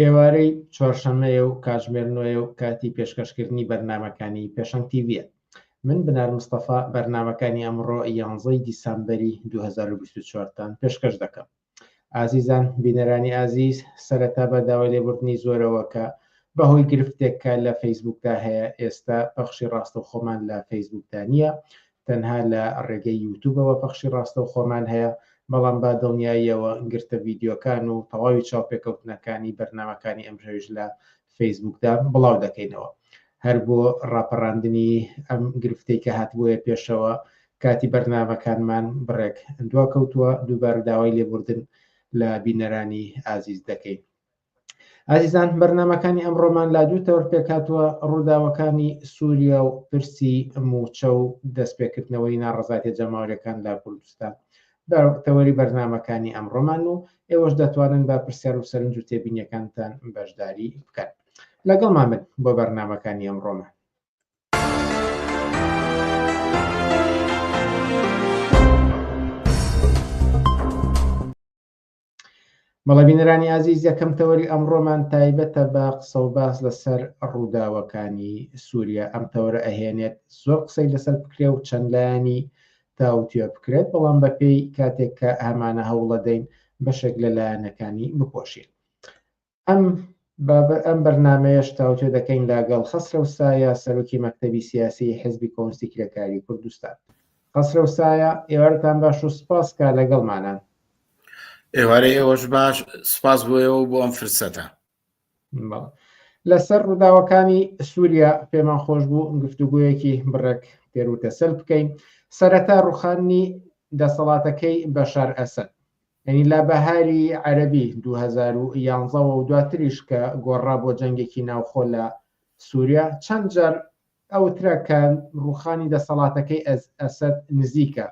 ئێوارەی چوارشەمەیە و کاتژمێر نۆیە و کاتی پێشکەشکردنی بەرنمەکانی پێشنگ تیڤە من بنار مستەفا بەرنمەکانی ئەمڕۆ یانزەی دیسامبەری 2024تان پێشکەش دەکەم ئازیزان بینەرانی ئازیز سەرەتا بە داوای لێبوردنی زۆرەوە کە بەهۆی گرفتێکە لە فەیسبوکدا هەیە ئێستا پەخشی ڕاستە خۆمان لە فەیسبوکدا نییە تەنها لە ڕێگەی یوتوبەوە پەخشی ڕاستەوخۆمان هەیە، بەڵام با دڵنیاییەوە گرتە ڤیدیۆکان و تەواوی چاوپێکەوتنەکانی بەرنامەکانی ئەمشەویش لە فەیسبووکدا بڵاو دەکەینەوە. هەر بۆ ڕاپەڕاندنی ئەم گرفتەی کە هاتبوویە پێشەوە، کاتی بەرنامەکانمان بڕێک دواکەوتووە، دووبارە داوای لێبوردن لە بینەرانی ئازیز دەکەین. ئازیزان بەرنمەکانی ئەمڕۆمان لا دوو تەور پێکاتوە ڕووداوەکانی سووریا و پرسی موچە و دەستپێکردنەوەی ناڕزاتە جەماورەکان لە کوردستان بە تەوەری بەرنمەکانی ئەمڕۆمان و ئێوەش دەتوانن بە پرسیار و سەرنج و تێبینیەکانتان بەشداری بکەن لەگەڵمان بن بۆ بەرنمەکانی ئەمڕۆمان بەڵێ بینەرانی ئازیز یەکەم تەوەری ئەمڕۆمان تایبەتە بە قسە و باس لەسەر ڕووداوەکانی سووریا ئەم تەوەرە ئەهێنێت زۆر قسەی لەسەر بکرێ و چەند لایەنی تاوتوێ بکرێت بەڵام بەپێی کاتێک کە ئەمانە هەوڵەدەین بەشێک لە لایەنەکانی بپۆشین ئەم بابە ئەم بەرنامەیەش تاوتوێ دەکەین لاگەڵ خەسرەو سایە سەرۆکی مەکتەبی سیاسیی حیزبی کۆمستی کرێکاریی کوردستان. خەسرەو سایە، ئێوارتان باش و سپاس کا لەگەڵمانە. ئێوارەی ئێوەش باش، سپاس بۆ ئێوە و بۆ ئەم فرسەتە. بەڵێ. لە سەر ڕووداوەکانی سووریا پێمان خۆش بوو گفتوگۆیەکی بڕێک تێر و تەسەل بکەین. سەرەتا ڕووخاندنی دەسەڵاتەکەی بەشار ئەسەد. یانی لە بەهاری عەرەبی دوو هەزار و یانزە وە و دواتریش کە گۆڕا بۆ جەنگێکی ناوخۆ لە سوریا چەند جار ئەوترا کە ڕووخانی دەسەڵاتەکەی ئەسەد نزیکە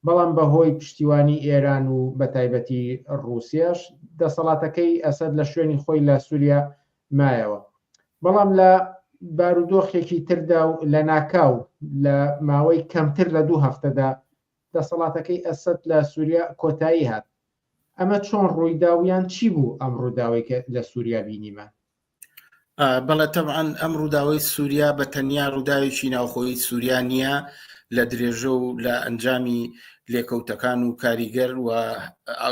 بەڵام بە هۆی پشتیوانی ئێران و بە تایبەتی ڕووسیاش دەسەڵاتەکەی ئەسەد لە شوێنی خۆی لە سوریا مایەوە بەڵام لە بارودۆخێکی تردا و لە ناکاو لە ماوەی کەمتر لە دوو هەفتەدا دەسەڵاتەکەی ئەسەد لە سوریا کۆتایی هات، ئەمە چۆن ڕوویدا و یان چی بوو ئەم ڕووداوەی کە لە سوریا بینیمان؟ بەڵێ تەبعەن ئەم ڕووداوەی سوریا بە تەنیا ڕووداوێکی ناوخۆی سوریا نییە لە درێژە و لە ئەنجامی لێکەوتەکان و کاریگەر و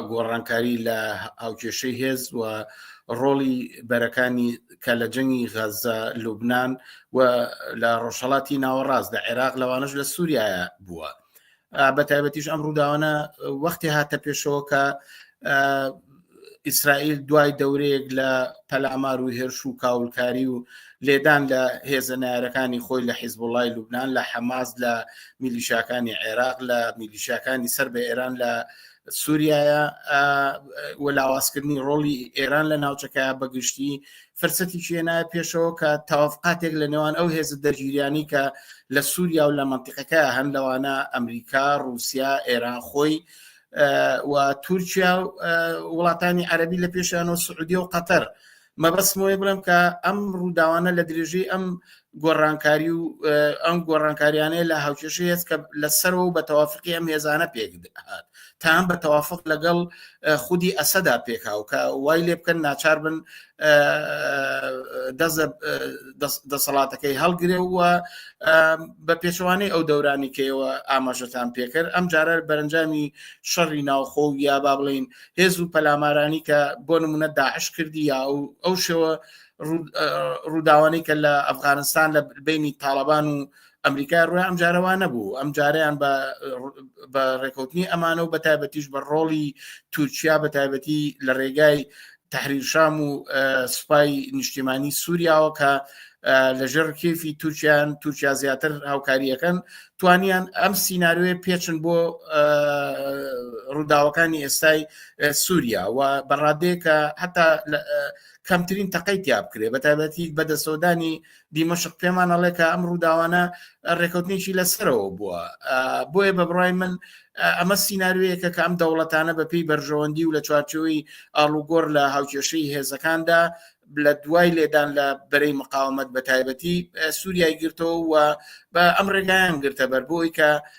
گۆڕانکاری لە هاوکێشەی هێز و ڕۆڵی بەرەکانی کە لە جەنگی غەزە لوبناان و لە ڕۆژهڵاتی ناوەڕاست لە عێراق لەوانش لە سووریایە بووە بە تایبەتیش ئەم ڕووداوانە وەختی هاتە پێشەوە کە ئیسرائیل دوای دەورەیەک لە پەلامار و هێرش و کاولکاری و لێدان لە هێزە نارەکانی خۆی لە حیزب وڵی لوبناان لە حەماز لە میلیشاکانی عێراق لە میلیشاکانی سەر بە ئێران لە سوریایە و لاوازکردنی ڕۆڵی ئێران لە ناوچەکە بەگشتی فرسەتی شوێنایە پێشەوە کە تاوافقاتێک لە نێوان ئەو هێز دەرگیریانی کە لە سووریا و لە منتیقەکە هەن لەوانە ئەمریکا رووسیا ئێران خۆی و تورکیا وڵاتانی عەربی لە پێشیان و سعودی و قەتەر مەبەستمەوەی بڵم کە ئەم ڕووداوانە لە درێژەی ئەم گۆڕانکاری و ئەم گۆڕانکاریانەیە لە هاوکێشە هێز کە لە سەرەوە بە تەوافقی ئەم هێزانە پێک هات تا هەم بە تەوافق لەگەڵ خودی ئەسەدا پێکاو کە وای لێ بکەن ناچار بن دەسەڵاتەکەی هەڵگرێ و بە پێچوانەی ئەو دەورانی کەەوە ئاماژەتان پێکرد ئەم جارە بەرەنجامی شەڕی ناوخۆ و یا با بڵین هێز و پەلامارانی کە بۆ نمونە داعش کردی یا ئەو شێوە ڕووداوانەی کە لە ئەفغانستان لە بینی تاالبان و ئەمریکای ڕوی ئەم جارەوە نەبوو ئەم جاریان بە ڕێکوتنی ئەمانە و بە تایبەتیش بە ڕۆڵی تورکیا بە تایبەتی لە ڕێگای تحریرشام و سوپای نیشتیمانی سووریاوە کە لەژێر کێفی تورکیان تورکیا زیاتر هاوکاریەکەن توانیان ئەم سینناروێ پێچن بۆ ڕووداوەکانی ئێستای سووریا و بەڕادێکە هەتا کەمترین تەقەی تیا بکرێ بە تایبەتی بە دەسەودانی دیمەشق پێمان ئەڵێ کە ئەم ڕووداوانە ڕێکوتنیی لەسەرەوە بووە بۆیە بە بڕای من ئەمە سینناروەیەکە کە ئەم دەوڵەتانە بەپی بەرژەوەندی و لە چوارچەوەی ئاڵوگۆر لە هاوکێشەی هێزەکاندا لە دوای لێدان لە بەرەی مقاومت بە تایبەتی سووریای گرتەوە و بە ئەم ڕێگایان گرتە بەر بۆی کە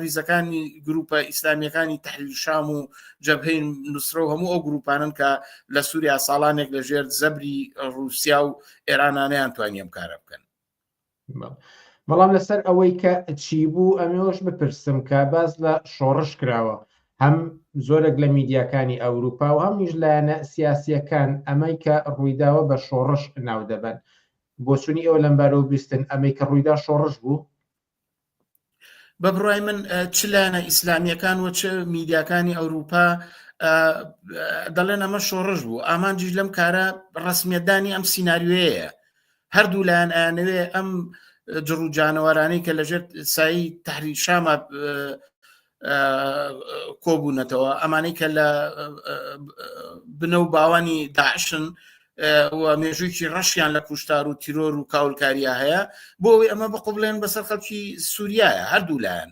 ریزەکانی گروپە ئیسلامیەکانی تحلیل شام و جەبهین نووسرە و هەموو ئەو گروپانن کە لە سووریا ساڵانێک لە ژێر زەبری رووسیا و ئێرانانیان توانیم کارە بکەن بەڵام لەسەر ئەوەی کە چی بوو ئەمێش بپرسم کە باز لە شۆڕش کراوە هەم زۆرێک لە میدیاکانی ئەوروپا و هەمیش لایەنە سیاسیەکان ئەمەی کە ڕوویداوە بە شۆڕش ناو دەبن بۆچونی ئەو لەمبارە و بیستن ئەمەی کە ڕوویدا شۆڕش بوو بە بڕای من چ لایەنە ئیسلامیەکان و چ میدیاکانی ئەوروپا دەڵێن ئەمە شۆڕش بوو ئامانجیش لەم کارە ڕسمیەتدانی ئەم سینناریوەیە هەردوو لایەن ئەیانەوێ ئەم جڕوجانەوەرانی کە لەژێر سایی تحری شامە کۆبوونەتەوە ئەمانەی کە لە بنە و باوانی داعشن و مێژوویی ڕەشیان لە کوشتار و تیرۆر و کاولکاریە هەیە بۆ ئەوی ئەمە بقبلێن بەسەر خەڵکی سووریایە هەردوو لایەن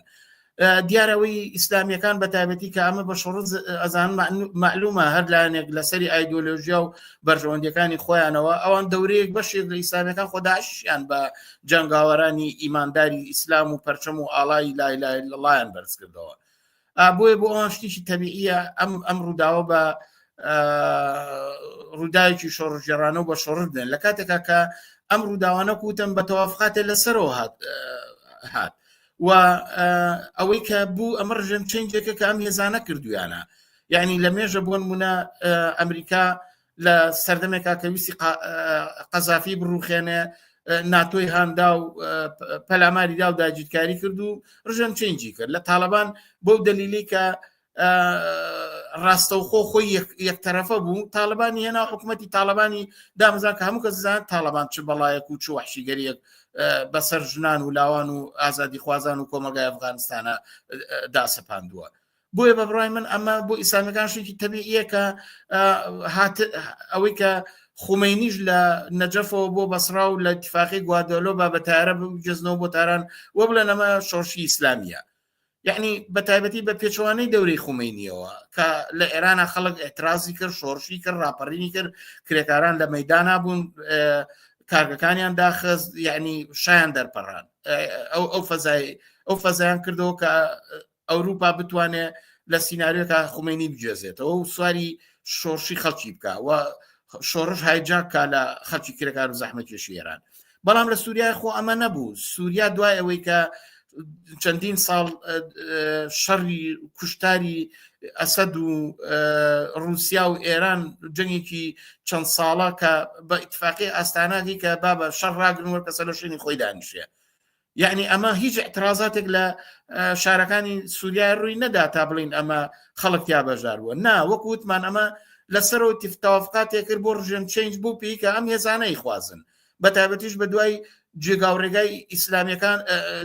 دیارەوەی ئیسلامیەکان بە تایبەتی کە ئەمە بە شڕز ئەزان معلومە هەر لایەنێک لەسەری ئایدۆلۆژیا و بەرژەوەندەکانی خۆیانەوە ئەوان دەورەیەک بەشێک لە ئیسلامیەکان خۆداشیان بە جەنگاوەرانی ئیمانداری ئیسلام و پەرچەم و ئاڵای لای لای لەڵایەن بەرزکردەوە بۆیە بۆ ئەوان شتیشی تەبیعە ئەم ئەم ڕووداوە بە ڕووداوێکی شۆڕژێرانە و بە شۆڕش بێن لە کاتێکا کە ئەم ڕووداوانە کوتن بە تەوافقاتێ لەسەرەوە هات هات و ئەوەی کە بوو ئەمە ڕژێم چنجێکە کە ئەم هێزانە کردویانە یعنی لە مێژە بۆن منە ئەمریکا لە سەردەمێکا کە ویستی قەزافی بڕوخێنێ ناتۆی هاندا و پەلاماری دا و داگیرکاری کرد و ڕژێم چنجی کرد لە تاالبان بۆ دەلیلی کە ڕاستەوخۆ خۆی یەک تەرەفە بوو تاالبانی هێنا حکوومەتتی تاالبانی دامزان کە هەموو کەزان تاالبان چ بەڵایەک و چ وحشیگەریەک بەسەر ژنان و لاوان و ئازادی خوازان و کۆمەگای ئەفغانستانە داسەپاندووە بۆیە بە بڕای من ئەمە بۆ ئیسلامیەکان شوێکی تەبیعە کە ئەوەی کە خومەینیش لە نەجەفەوە بۆ بەسرا و لە تفاقی گوادۆلۆ با بە تارە بگەزنەوە بۆ تاران وە بڵێن ئەمە شۆشی ئیسلامیە یعنی بە تایبەتی بە پێچوانەی دەوری خومینیەوە کە لە ئێرانە خەڵک ئەترازی کرد شۆرشی کرد راپەڕینی کرد کرێکاران لە مەدانا بوون کارگەکانیان داخز یعنی شایان دەرپەڕان ئەو ئەو فەزای ئەو فەزیان کردەوە کە ئەوروپا بتوانێ لە سینناریۆکە خومێنی بگوێزێتەوە و سواری شۆڕشی خەڵکی بکە و شۆڕش هایجاکە لە خەڵکی کرێکار و زەحمەکێشی ئێران بەڵام لە سووریای خۆ ئەمە نەبوو سووریا دوای ئەوەی کە چەندین ساڵ شەڕی کوشتاری ئەسەد و رووسیا و ئێران جەنگێکی چەند ساڵە کە بە ئیتفاقی ئاستاناگی کە بابە شەڕ راگرنوە کەسە لە شوێنی خۆی دانیشێ یعنی ئەمە هیچ اعترازاتێک لە شارەکانی سووریا ڕووی نەدا تا بڵین ئەمە خەڵک یا بەژار بووە نا وەک وتمان ئەمە لەسەرەوە تفتاوافقاتێک کرد بۆ ڕژێن چنج بوو پێی کە ئەم هێزانەی خوازن بە تایبەتیش بە دوای جێگا و ڕێگای ئیسلامیەکان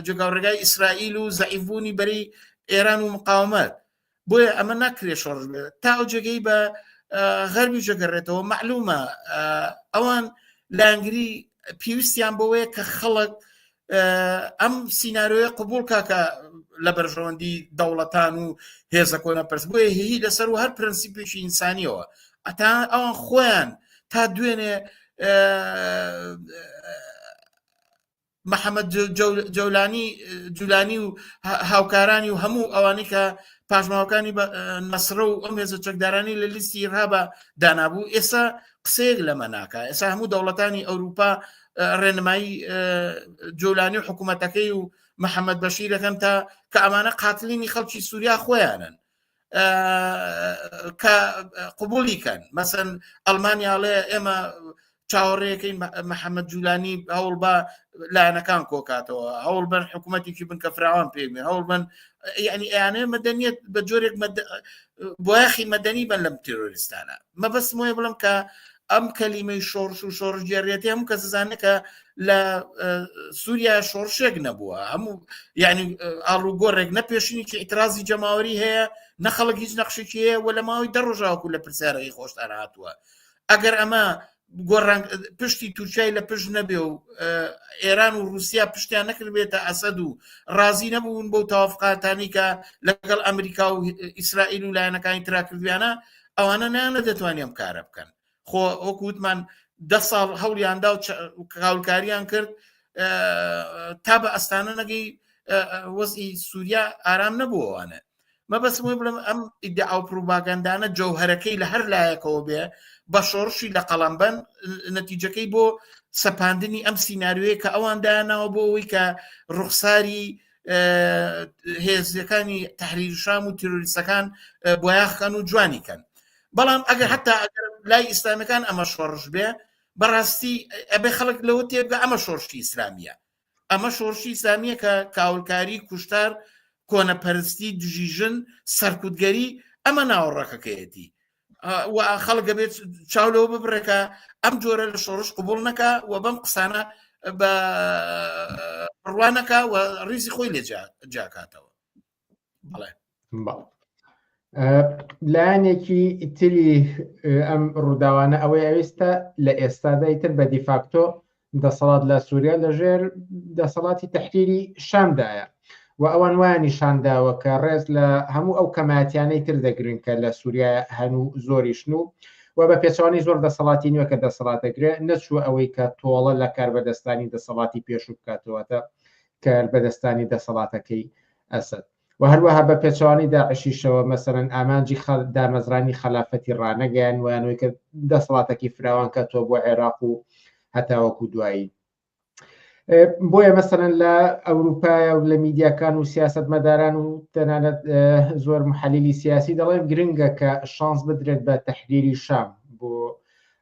جێگا و ڕێگای ئیسرائیل و زعیفبوونی بەری ئێران و مقاومەت بۆیە ئەمە ناکرێت شۆڕش بێت تا ئەو جێگەی بە غەربی جەگەڕێتەوە معلومە ئەوان لانگری پێویستیان بەوەیە کە خەڵک ئەم سینناروۆیە قوبول کاکە لە بەرژەوەندی دەوڵەتان و هێزە کۆنە پرس بۆیە هی لەسەر و هەر پرەنسیپێکی ئینسانیەوە ئەتا ئەوان خۆیان تا دوێنێ محەمەد جەولانی جولانی و هاوکارانی و هەموو ئەوانەی کە پاشماوەکانی نەسرە و ئەم هێزە چەکدارانی لە لیستی ئیرهابە دانابوو ئێستا قسەیەک لەمە ناکە ئێستا هەموو دەوڵەتانی ئەوروپا ڕێنمایی جۆلانی و حکوومەتەکەی و محەممەد بەشیرەکەن تا کە ئەمانە قاتلینی خەڵکی سووریا خۆیانن کە قوبولی کەن مەسەن ئەلمانیاڵێ ئێمە چاوەڕێەکەی محەممەد جولانی هەوڵ بە لایەنەکان کۆکاتەوە هەوڵ بن حکوومەتێکی بن کە فراوان پێێ هەوڵ بن ینی ئەیانێ مەدەنیت بە جۆرێک بۆیاخی مەدەنی بن لەم تیرۆریستانە مەبەستمۆە بڵم کە ئەم کەلیمەی شۆڕش و شۆڕش گێڕێتی هەموو کەس زانە کە لە سووریا شۆڕشێک نەبووە هەموو ینی ئاڵوگۆڕێک نە پێشینێکی ئیترازی جەماوەری هەیە نە خەڵک هیچ نەخشێکی هەیە وە لە ماوەی دە ڕۆژاوکو لە پرسیارەکەی خۆشتان هاتووە ئەگەر ئەمە گۆڕان پشتی تورکای لە پشت نەبێ و ئێران و رووسیا پشتیان نەکردبێتە ئەسەد و ڕازی نەبوون بۆ تاافقاتانی کە لەگەڵ ئەمریکا و ئیسرائیل و لایەنەکانی تراکردویانە ئەوانە نانە دەتوانانی ئەم کارە بکەن خۆ ئەوکو وتمان ده ساڵ هەولیاندا و کاولکاریان کرد تا بە ئەستانە نەگەی وەزی سووریا ئارام نەبووانە مەبەسمە بڵم ئەم ئیدە ئەو پروڤاگەندانە جەوهرەکەی لە هەر لایەکەوە بێ بە شۆڕشی لە قەڵمبەن نەتیجەکەی بۆ سەپاندنی ئەم سینناروێ کە ئەوان دایانناوە بۆ ئەوی کە ڕوخساری هێزیەکانی تحریر شام و تیرۆریستەکان بۆیاخکەن و جوانی کەن بەڵام ئەگەر حتا لای ئیسلامەکان ئەمە شۆڕش بێ بەڕاستی ئەبێ خەڵک لەوە تێبگە ئەمە شۆرشی ئیسلامیە ئەمە شۆرشی ئیسلامیە کە کاولکاری کوشتار کۆنەپەرستی دژی ژن سەرکوتگەری ئەمە ناوەڕەکەکەیەتی خەڵک دەبێت چاو لەوە ببرێکە ئەم جۆرە لە شۆڕش قوبول نەکە و بەم قسانە بە ڕوانەکە و ڕیزی خۆی لێ جاکاتەوە بڵێ لایەنێکی ئیتری ئەم ڕووداوانە ئەوەی ئەوێستا لە ئێستادای تر بە دیفاکتۆ دەسەڵات لە سوریا لەژێر دەسەڵاتی تەحریری شامدایە و ئەوان وایان نیشانداوە کە ڕێز لە هەموو ئەو کەماتیانەی تر دەگرن کە لە سووریا هەن و زۆریشن و و بە پێچوانی زۆر دەسەڵاتی نوێ کە دەسەڵات دەگرێ نەچوو ئەوەی کە تۆڵە لە کاربەدەستانی دەسەڵاتی پێشوو بکاتەوەتە کار بەدەستانی دەسەڵاتەکەی ئەسد و هەروەها بە پێچەوانەی داعشیشەوە مەسەلەن ئامانجی دامەزرانی خەلافەتی ڕانەگەیان ویانەوەی کە دەسەڵاتەکی فراوان کەتووە بۆ عێراق و هەتاوەکو دوایی بۆیە مەسەن لە ئەوروپایە و لە میدیاکان و سیاست مەداران و تەنانەت زۆر محەلیلی سیاسی دەڵێن گرنگە کە شانس بدرێت بە تەحریری شام بۆ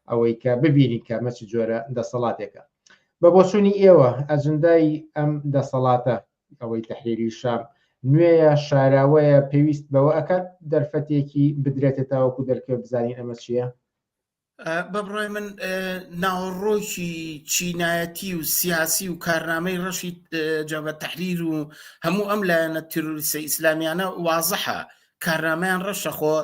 ئەوەی کە ببینی کە مەچ جۆرە دەسەڵاتێکە بە بۆچوونی ئێوە ئەجندای ئەم دەسەڵاتە ئەوەی تەحریری شەڕ نوێیە شاراوەیە پێویست بەوە ئەکات دەرفەتێکی بدرێتە تاوەکو دەرکەوێ بزانین ئەمە چییە؟ بە بڕای من ناوەڕۆکی چینایەتی و سیاسی و کارنامەی ڕەشی جەبە تەحریر و هەموو ئەم لایەنە تیرۆریسە ئیسلامیانە وازەحە کارنامەیان ڕەشە خۆ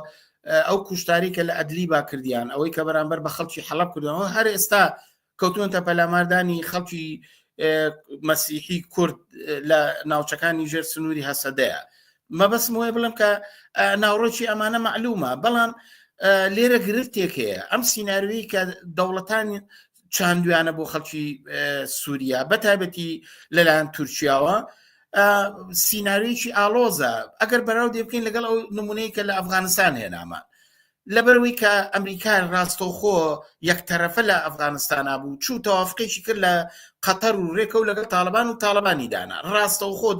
ئەو کوشتاری کە لە ئەدلی با کردیان ئەوەی کە بەرامبەر بە خەڵکی حەڵب کردەوە هەر ئێستا کەوتونەتە پەلاماردانی خەڵکی مەسیحی کورد لە ناوچەکانی ژێر سنووری هەسەدەیە مەبەسم وێ بڵم کە ناوڕۆکی ئەمانە معلومە بەڵام لێرە گرفتێک هەیە ئەم سینناروی کە دەوڵەتانی چاندویانە بۆ خەڵکی سووریا بەتابەتی لەلایەن تورکیاوە سیننارویی ئالۆزە ئەگەر بەراو دێ بکەین لەگەڵ ئەو نمونەی کە لە ئەفغانستان هێنامە لەبەرئەوەی کە ئەمریکا ڕاستەوخۆ یەکتەرەفە لە ئەفغانستانا بوو چوو تەوافقێکی کرد لە قەتەر و رێکەوت لەگەڵ تاڵەبان و تاڵەبانی دانا ڕاستەوخۆ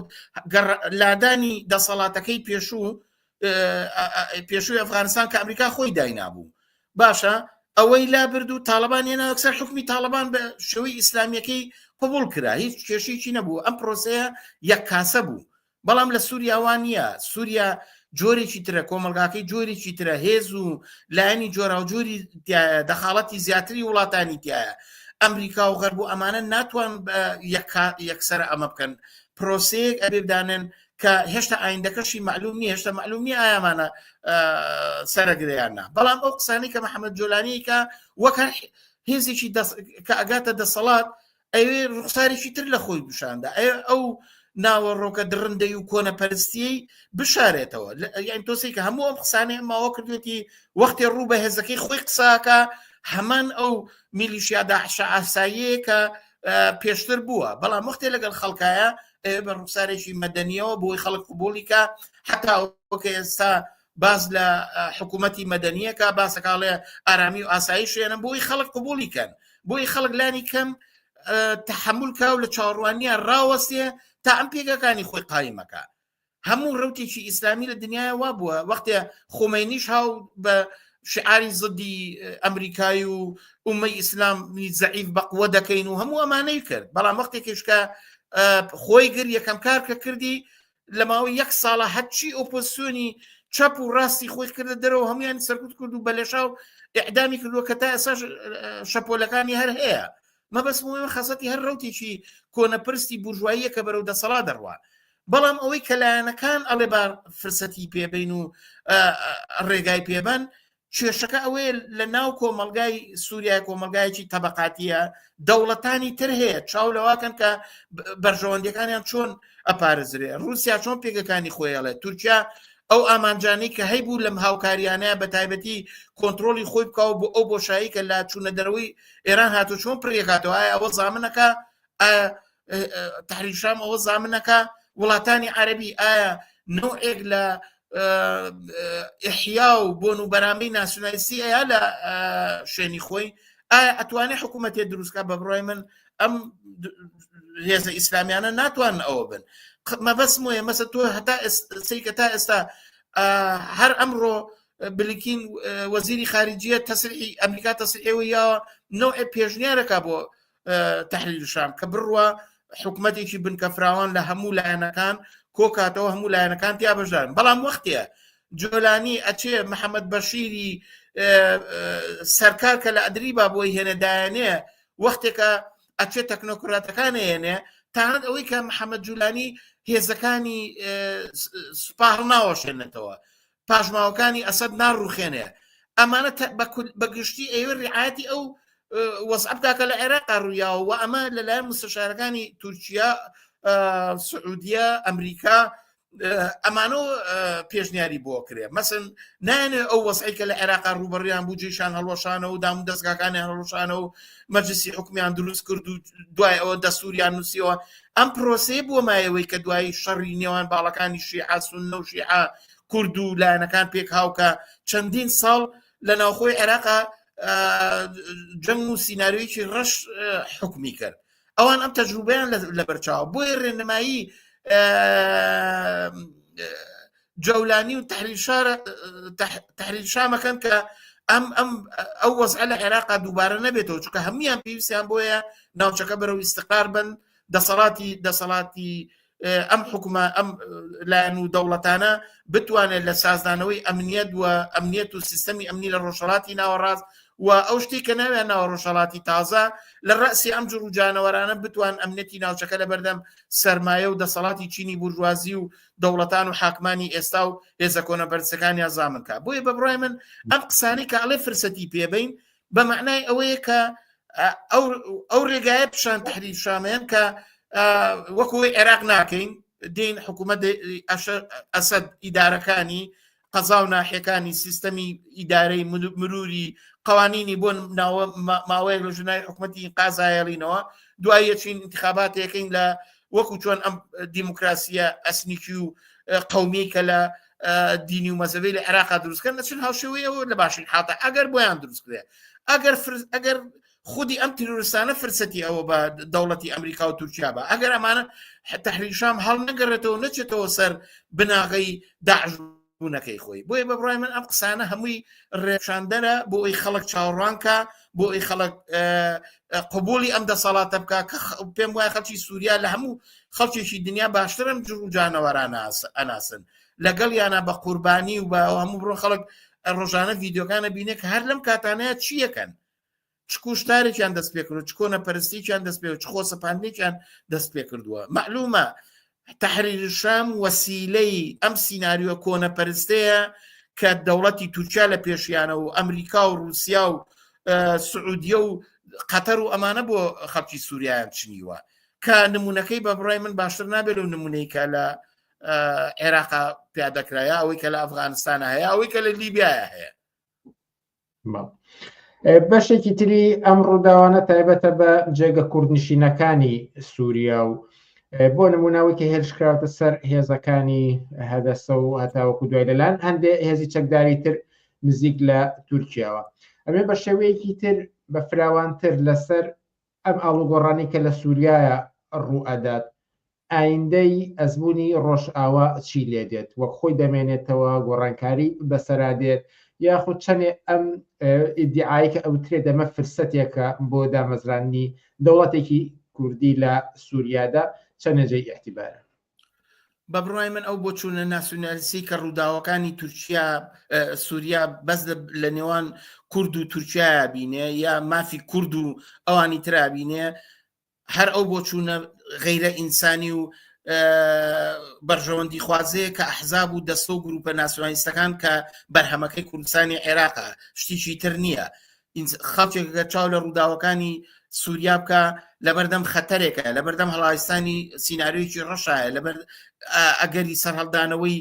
لادانی دەسەڵاتەکەی پێشوو پێشووی ئەفغانستان کە ئەمریکا خۆی داینابوو باشە ئەوەی لابرد و تاالبان هێنا ئەکسەر حکومی تاالبان بە شێوەی ئیسلامیەکەی قوبول کرا هیچ کێشێکی نەبوو ئەم پرۆسەیە یەک کاسە بوو بەڵام لە سووریا وا نییە سووریا جۆرێکی ترە کۆمەلگاکەی جۆرێکی ترە هێز و لایەنی جۆرا و جۆری دەخاڵەتی زیاتری وڵاتانی تایە ئەمریکا و غەرب و ئەمانە ناتوان یەکسەر ئەمە بکەن پرۆسەیەک ئەبێدانن کە هێشتا ئایندەکەشی معلوم نیە هێشتا معلوم نیە ئایامانە سەرگریاننا بەڵام ئەو قسانی کە محەممەد جۆلانیکە وەک هێزێکی کە ئەگاتە دەسەڵات ئەوێ ڕوخسارێکی تر لە خۆی بشاندا ئەوێ ئەو ناوە ڕۆکە دڕندەی و کۆنە پەرستیی بشارێتەوە یان تۆسی کە هەموو ئەم قسانێ ماوە کردێتی وەختێ ڕوو بە هێزەکەی خۆی قساکە هەمان ئەو میلیشیادا عشا ئاساییە کە پێشتر بووە بەڵام وەختێ لەگەڵ خەڵکایە بە ڕوخسارێکی مەدەنیەوە بۆی خەڵک قوبولیکە حتا وەکە ئێستا باس لە حکوومەتی مەدەنیەکە باسەکڵێ ئارامی و ئاسایی شوێنە بۆی خەڵک قوبولی کەن بۆی خەڵک لانی کەم تحمل کا و لە چاڕوانیە ڕاوەستێ تا ئەم پێگەکانی خۆی قایمەکە هەموو ڕوتێکی ئیسلامی لە دنیای وا بووە وەختێ خۆمەنیش هاو بە شعاری زدی ئەمریکای و ئومەی ئیسلام زعیف بەقوە دەکەین و هەموو ئەمانەی کرد بەڵام وەختێکیشکە خۆی گر یەکەم کار کە کردی لە ماوەی یەک ساڵە هەرچی ئۆپۆزسیۆنی چەپ و ڕاستی خۆی کردە دەرەوە هەمویان سەرکوت کرد و بەلەشا و ئعدامی کردووە کە تا ئێساش شەپۆلەکانی هەر هەیە مەبەست موە خەسەتی هەر ڕوتێکی کۆنەپرستی بورژواییە کە بەرەو دەسەڵا دەڕوا بەڵام ئەوەی کە لایەنەکان ئەڵێ بار فرسەتی پێبین و ڕێگای پێبەن کێشەکە ئەوەیە لە ناو کۆمەلگای سووریای کۆمەلگایکی تەبقاتیە دەوڵەتانی تر هەیە چاو لەواکەن کە بەرژەوەندەکانیان چۆن ئەپارزرێ رووسیا چۆن پێگەکانی خۆیڵێت تورکیا ئەو ئامانجانی کە هەیبوو لەم هاوکاریانە بە تایبەتی کۆنتترۆلی خۆی بکەوە بۆ ئەو بۆشایی کە لا چوونە دەرەوەی ئێران هاتو چۆن پرێکاتەوە ئەوە زامنەکە تحریر شام ئەوە زامنەکە وڵاتانی عەربی ئایا نوعێک لە ئحیا و بۆن و بەرامی ناسیونالیستی ئەیە لە شوێنی خۆی ئایا ئەتوانێت حکوومەتێ دروستکە بە بڕای من ئەم هێزە ئیسلامیانە ناتوان ئەوە بن مەبەسم وە مەسە تۆ هەتا سیکە تا ئێستا هەر ئەمڕۆ بلیکین وەزیری خارجیە تەسری ئەمریکا تەسری ئێوە یاوە نوع پێشنیارەکە بۆ تحلیل شام کە بڕوە حکوومەتێکی بنکە فراوان لە هەموو لایەنەکان کۆکاتەوە هەموو لایەنەکان تیا بەژدان بەڵام وەختەیە جۆلانی ئەچێ محەممەد بەشیری سەرکار کە لە ئەدریبا بۆی هێنەدایانێ وەختێکە ئەچێ تەکنۆکراتەکان هێنێ تاند ئەوەی کە محەممەد جولانی هێزەکانی سوپاڕ ناوەشێنێتەوە پاشماوەکانی ئەسەد ناڕوخێنێ ئەمانە بەگشتی ئێوە ڕعاەتی ئەو وەسە بکاکە لە عێراقا ڕوویاوە و ئەمە لەلایەن مستەشارەکانی تورکیا سعودیە ئەمریکا ئەمانۆ پێشنیاری بۆ کرێ مەسن نانێ ئەو وەسعیکە لە عێراقا ڕوبڕیان بوو جیشان هەڵۆشانە و دام دەستگاکانی هەڵۆشانە و مەجلسی حکومیان دروست کرد و دوای ئەوە دەسووریان نووسیەوە ئەم پرۆسی بۆ مایەوەی کە دوایی شەڕی نێوان باڵەکانی شیعاسون نەوشیع کورد و لایەنەکان پێک هاوکە چەندین ساڵ لە ناوخۆی عێراقا جەنگ و سینناریویی ڕەش حکمی کرد ئەوان ئەم تەجروبیان لە بەرچاو بۆیە ڕێنمایی جەولانی و تحلیل شارە تحلیل شامەکەن کە ئەم ئەم ئەو وەزع لە عێراقا دووبارە نەبێتەوە چکە هەمویان پێویستیان بۆیە ناوچەکە بەرەو ئیسقار بن دەسەڵاتی دەسەڵاتی ئەم حکومە ئەم لایەن و دەوڵەتانە بتوانێت لە سازدانەوەی ئەمنیەت و ئەمنیەت و سیستەمی ئەمنی لە ڕۆژهڵاتی ناوەڕاست و ئەو شتی کە ناویان ناوە ڕۆژهڵاتی تازە لە ڕاسی ئەم جڕ و جانەوەرانە بتوان ئەمنەتی ناوچەکە لە بەردەم سرمایە و دەسەڵاتی چینی بورژوازی و دەوڵەتان و حاکمانی ئێستا و هێزە کۆنە بەرزەکانیان زامنکە بۆیە بە بڕای من ئەم قسانی کە ئەڵێ فرسەتی پێبین بە معنای ئەوەیە کە ئەو ڕێگایە پیشان تحریر شامەیەن کە وەکوی عێراق ناکەین دین حکوومەت ئەسد ئیدارەکانی قەزا و ناحەکانی سیستەمی ئیدارەی مروری قوانینی بۆن ناوە ماوەیەک لە ژنای حکوومەتی قازایەڵینەوە دوایە چین انتخاباتەکەین لە وەکو چۆن ئەم دیموکراسیە ئەسنیکی و قومی کە لە دینی و مەزەبی لە عێراقا دروستکەن نەچن هاوشێوەی ئەوە لە باشی حتا ئەگەر بۆیان دروستکرێ ئەگەر ئەگەر خودی ئەم تیرۆرستانە فرسەتی ئەوە بە دەوڵەتی ئەمریکا و تورکیا بە ئەگەر ئەمانە تحریشام هەڵ نەگەڕێتەوە نەچێتەوە سەر بناغی داعش بوونەکەی خۆی بۆیە بە بڕای من ئەم قسانە هەمووی ڕێشاندەرە بۆ ئەوی خەڵک چاوەڕوانکە بۆ ئەوی خەڵک قبولی ئەم دەسەڵاتە بکە کە پێم وای خەڵکی سووریا لە هەموو خەڵکێکی دنیا باشترم جر و جانەوەران ئەناسن لەگەڵ یانە بە قوربانی و بە هەموو بڕۆ خەڵک ڕۆژانە ڤیددیوگانە بینێک هەر لەم کاتانەیە چیەکەن چ کوشتارێکیان دەست پێکرد چ کۆنە پەرستێکیان دەست پێ چ خۆ سەپاندێکیان دەست پێ کردووە معلومە تەحریرشام وەسیلەی ئەم سیناریۆ کۆنەپەرستەیە کە دەوڵەتی تورکیا لە پێشیانە و ئەمریکا و رووسیا و سعودیە و قەتەر و ئەمانە بۆ خەڵکی سووریان چنیوە کە نمونونەکەی بە بڕای من باشتر نابێت و نمونەی کە لە عێراقا پیادەکرایە ئەوەی کە لە ئەفغانستانە هەیە ئەوەی کە لە لیبیایە هەیە بەشێکی تری ئەم ڕووداوانە تایبەتە بە جێگە کوردنشینەکانی سووریا و بۆ نمونەوەکی هێرشکراوتە سەر هێزەکانی هەدەسە و هەتاوەکو دوای لەلاەن هەندێ هێزی چەکداری تر نزیک لە تورکیاوە ئەمێ بە شێوەیەکی تر بە فراوانتر لەسەر ئەم ئاڵوگۆڕانی کە لە سووریایە ڕوو ئەدات ئایندەی ئەزموونی ڕۆژئاوا چی لێ دێت، وەک خۆی دەمێنێتەوە، گۆڕانکاری بەسەرا دێت، یاخود چەنێ ئەم ئیدیعایەی کە ئەوترێت ئەمە فرسەتێکە بۆ دامەزراندنی دەوڵەتێکی کوردی لە سووریادا، چەنێ جێی ئیعتیبارە؟ بە بڕای من ئەو بۆچوونە ناسیونالیستی کە ڕووداوەکانی تورکیا سووریا بەس لە نێوان کورد و تورکیا بینێ یا مافی کورد و ئەوانی ترابینێ هەر ئەو بۆ چوونە غیرە ئینسانی و بەرژەوەندی خوازەیە کە ئەحزاب و دەستە و گروپە ناسیۆنالیستەکان کە بەرهەمەکەی کوردستانی عێراقە شتیشی تر نییە خەڵکێکگە چاو لە ڕووداوەکانی سووریا بکە لەبەردەم خەتەرێکە لەبەردەم هەڵایستانی سینناریویی ڕەشایە لەبەر ئەگەری سەرهەڵدانەوەی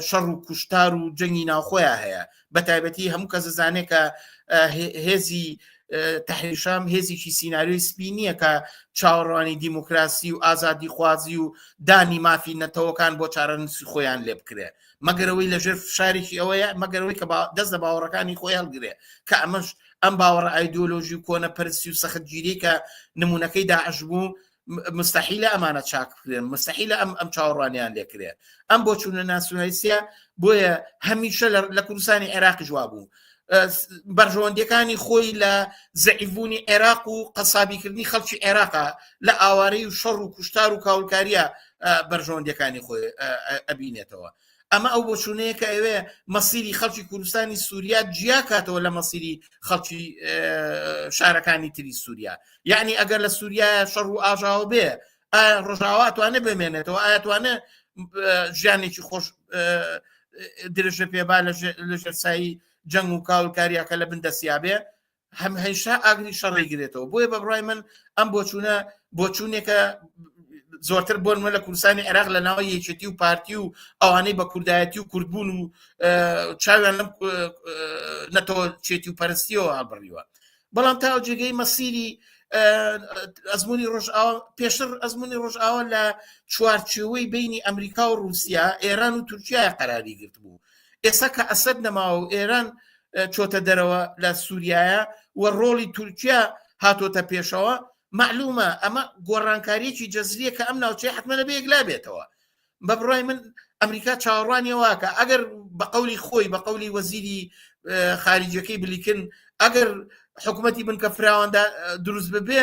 شەڕ و کوشتار و جەنگی ناوخۆیان هەیە بە تایبەتی هەموو کەس زانێ کە هێزی تحریشام هێزیی سینناریۆی سپی نییە کە چاوەڕوانی دیموکراسی و ئازادی خوازی و دانی مافی نەتەوەکان بۆ چارەنووسی خۆیان لێ بکرێ مەگەرەوەی لەژێر فشارێکی ئەوەیە مەگەرەوەی کە دەست لە باوەڕەکانی خۆی هەڵگرێ کە ئەمەش ئەم باوەڕە ئایدۆلۆژی و کۆنە پرسی و سەختگیری کە نمونونەکەی داعش بوو مستحیلە ئەمانە چاک بکرێن مستحیلە ئەم ئەم چاوەڕوانیان لێکرێ ئەم بۆ چوونە ناسیۆنالیسیە بۆیە هەمیشە لە کوردستانی عێراقی جووا بوو بەرژەوەندەکانی خۆی لە زعیبوونی عێراق و قەسابیکردنی خەڵکی عێراقا لە ئاوارەی و شەڕ و کوشتار و کاولکاریە بەرژەوەندەکانی خۆی ئەبینێتەوە ئەمە ئەو بۆچوونەیە کە ئەوێ مەسیری خەڵکی کوردستانی سووریا جیا کاتەوە لە مەسیری خەڵکی شارەکانی تری سووریا یعنی ئەگەر لە سووریا شەڕ و ئاژاوە بێ ڕژاوا توانێ بمێنێتەوە ئاتوانە ژیانێکی خۆش درێژە پێبا لە ژێرسایی جەنگ و کاڵکاریەکە لە بندەسیابێ هەم هەیشتا ئاگری شەڕ ئەیگرێتەوە بۆیە بە بڕای من ئەم بۆچوونە بۆچوونێکە زۆرتر بۆن من لە کوردستانی عێراق لە ناوە یەکێتی و پارتی و ئەوانەی بە کوردایەتی و کوردبوون و چاویان لەم نەتەوە چێتی و پەرستیەوە هەڵبڕیوە بەڵام تا جێگەی مەسیری ئەزمموی ڕژ پێشتر ئەزمموی ڕژاوە لە چوارچێوەی بینی ئەمریکا و رووسیا ئێران و تورکیا قەراری گرت بوو ئێستا کە ئەسد نەماوە و ئێران چۆتە دەرەوە لە سووریایە و ڕۆڵی تورکیا هاتۆتە پێشەوە معلومە ئەمە گۆڕانکاریەکی جەزریە کە ئەم ناوچەی حتممە لە بێکلا بێتەوە بە بڕای من ئەمریکا چاوەڕوانی واکە ئەگەر بە قولی خۆی بە قولی وەزیری خارجیەکەی بلیکن ئەگەر حکوومەتی بنکە فراواندا دروست ببێ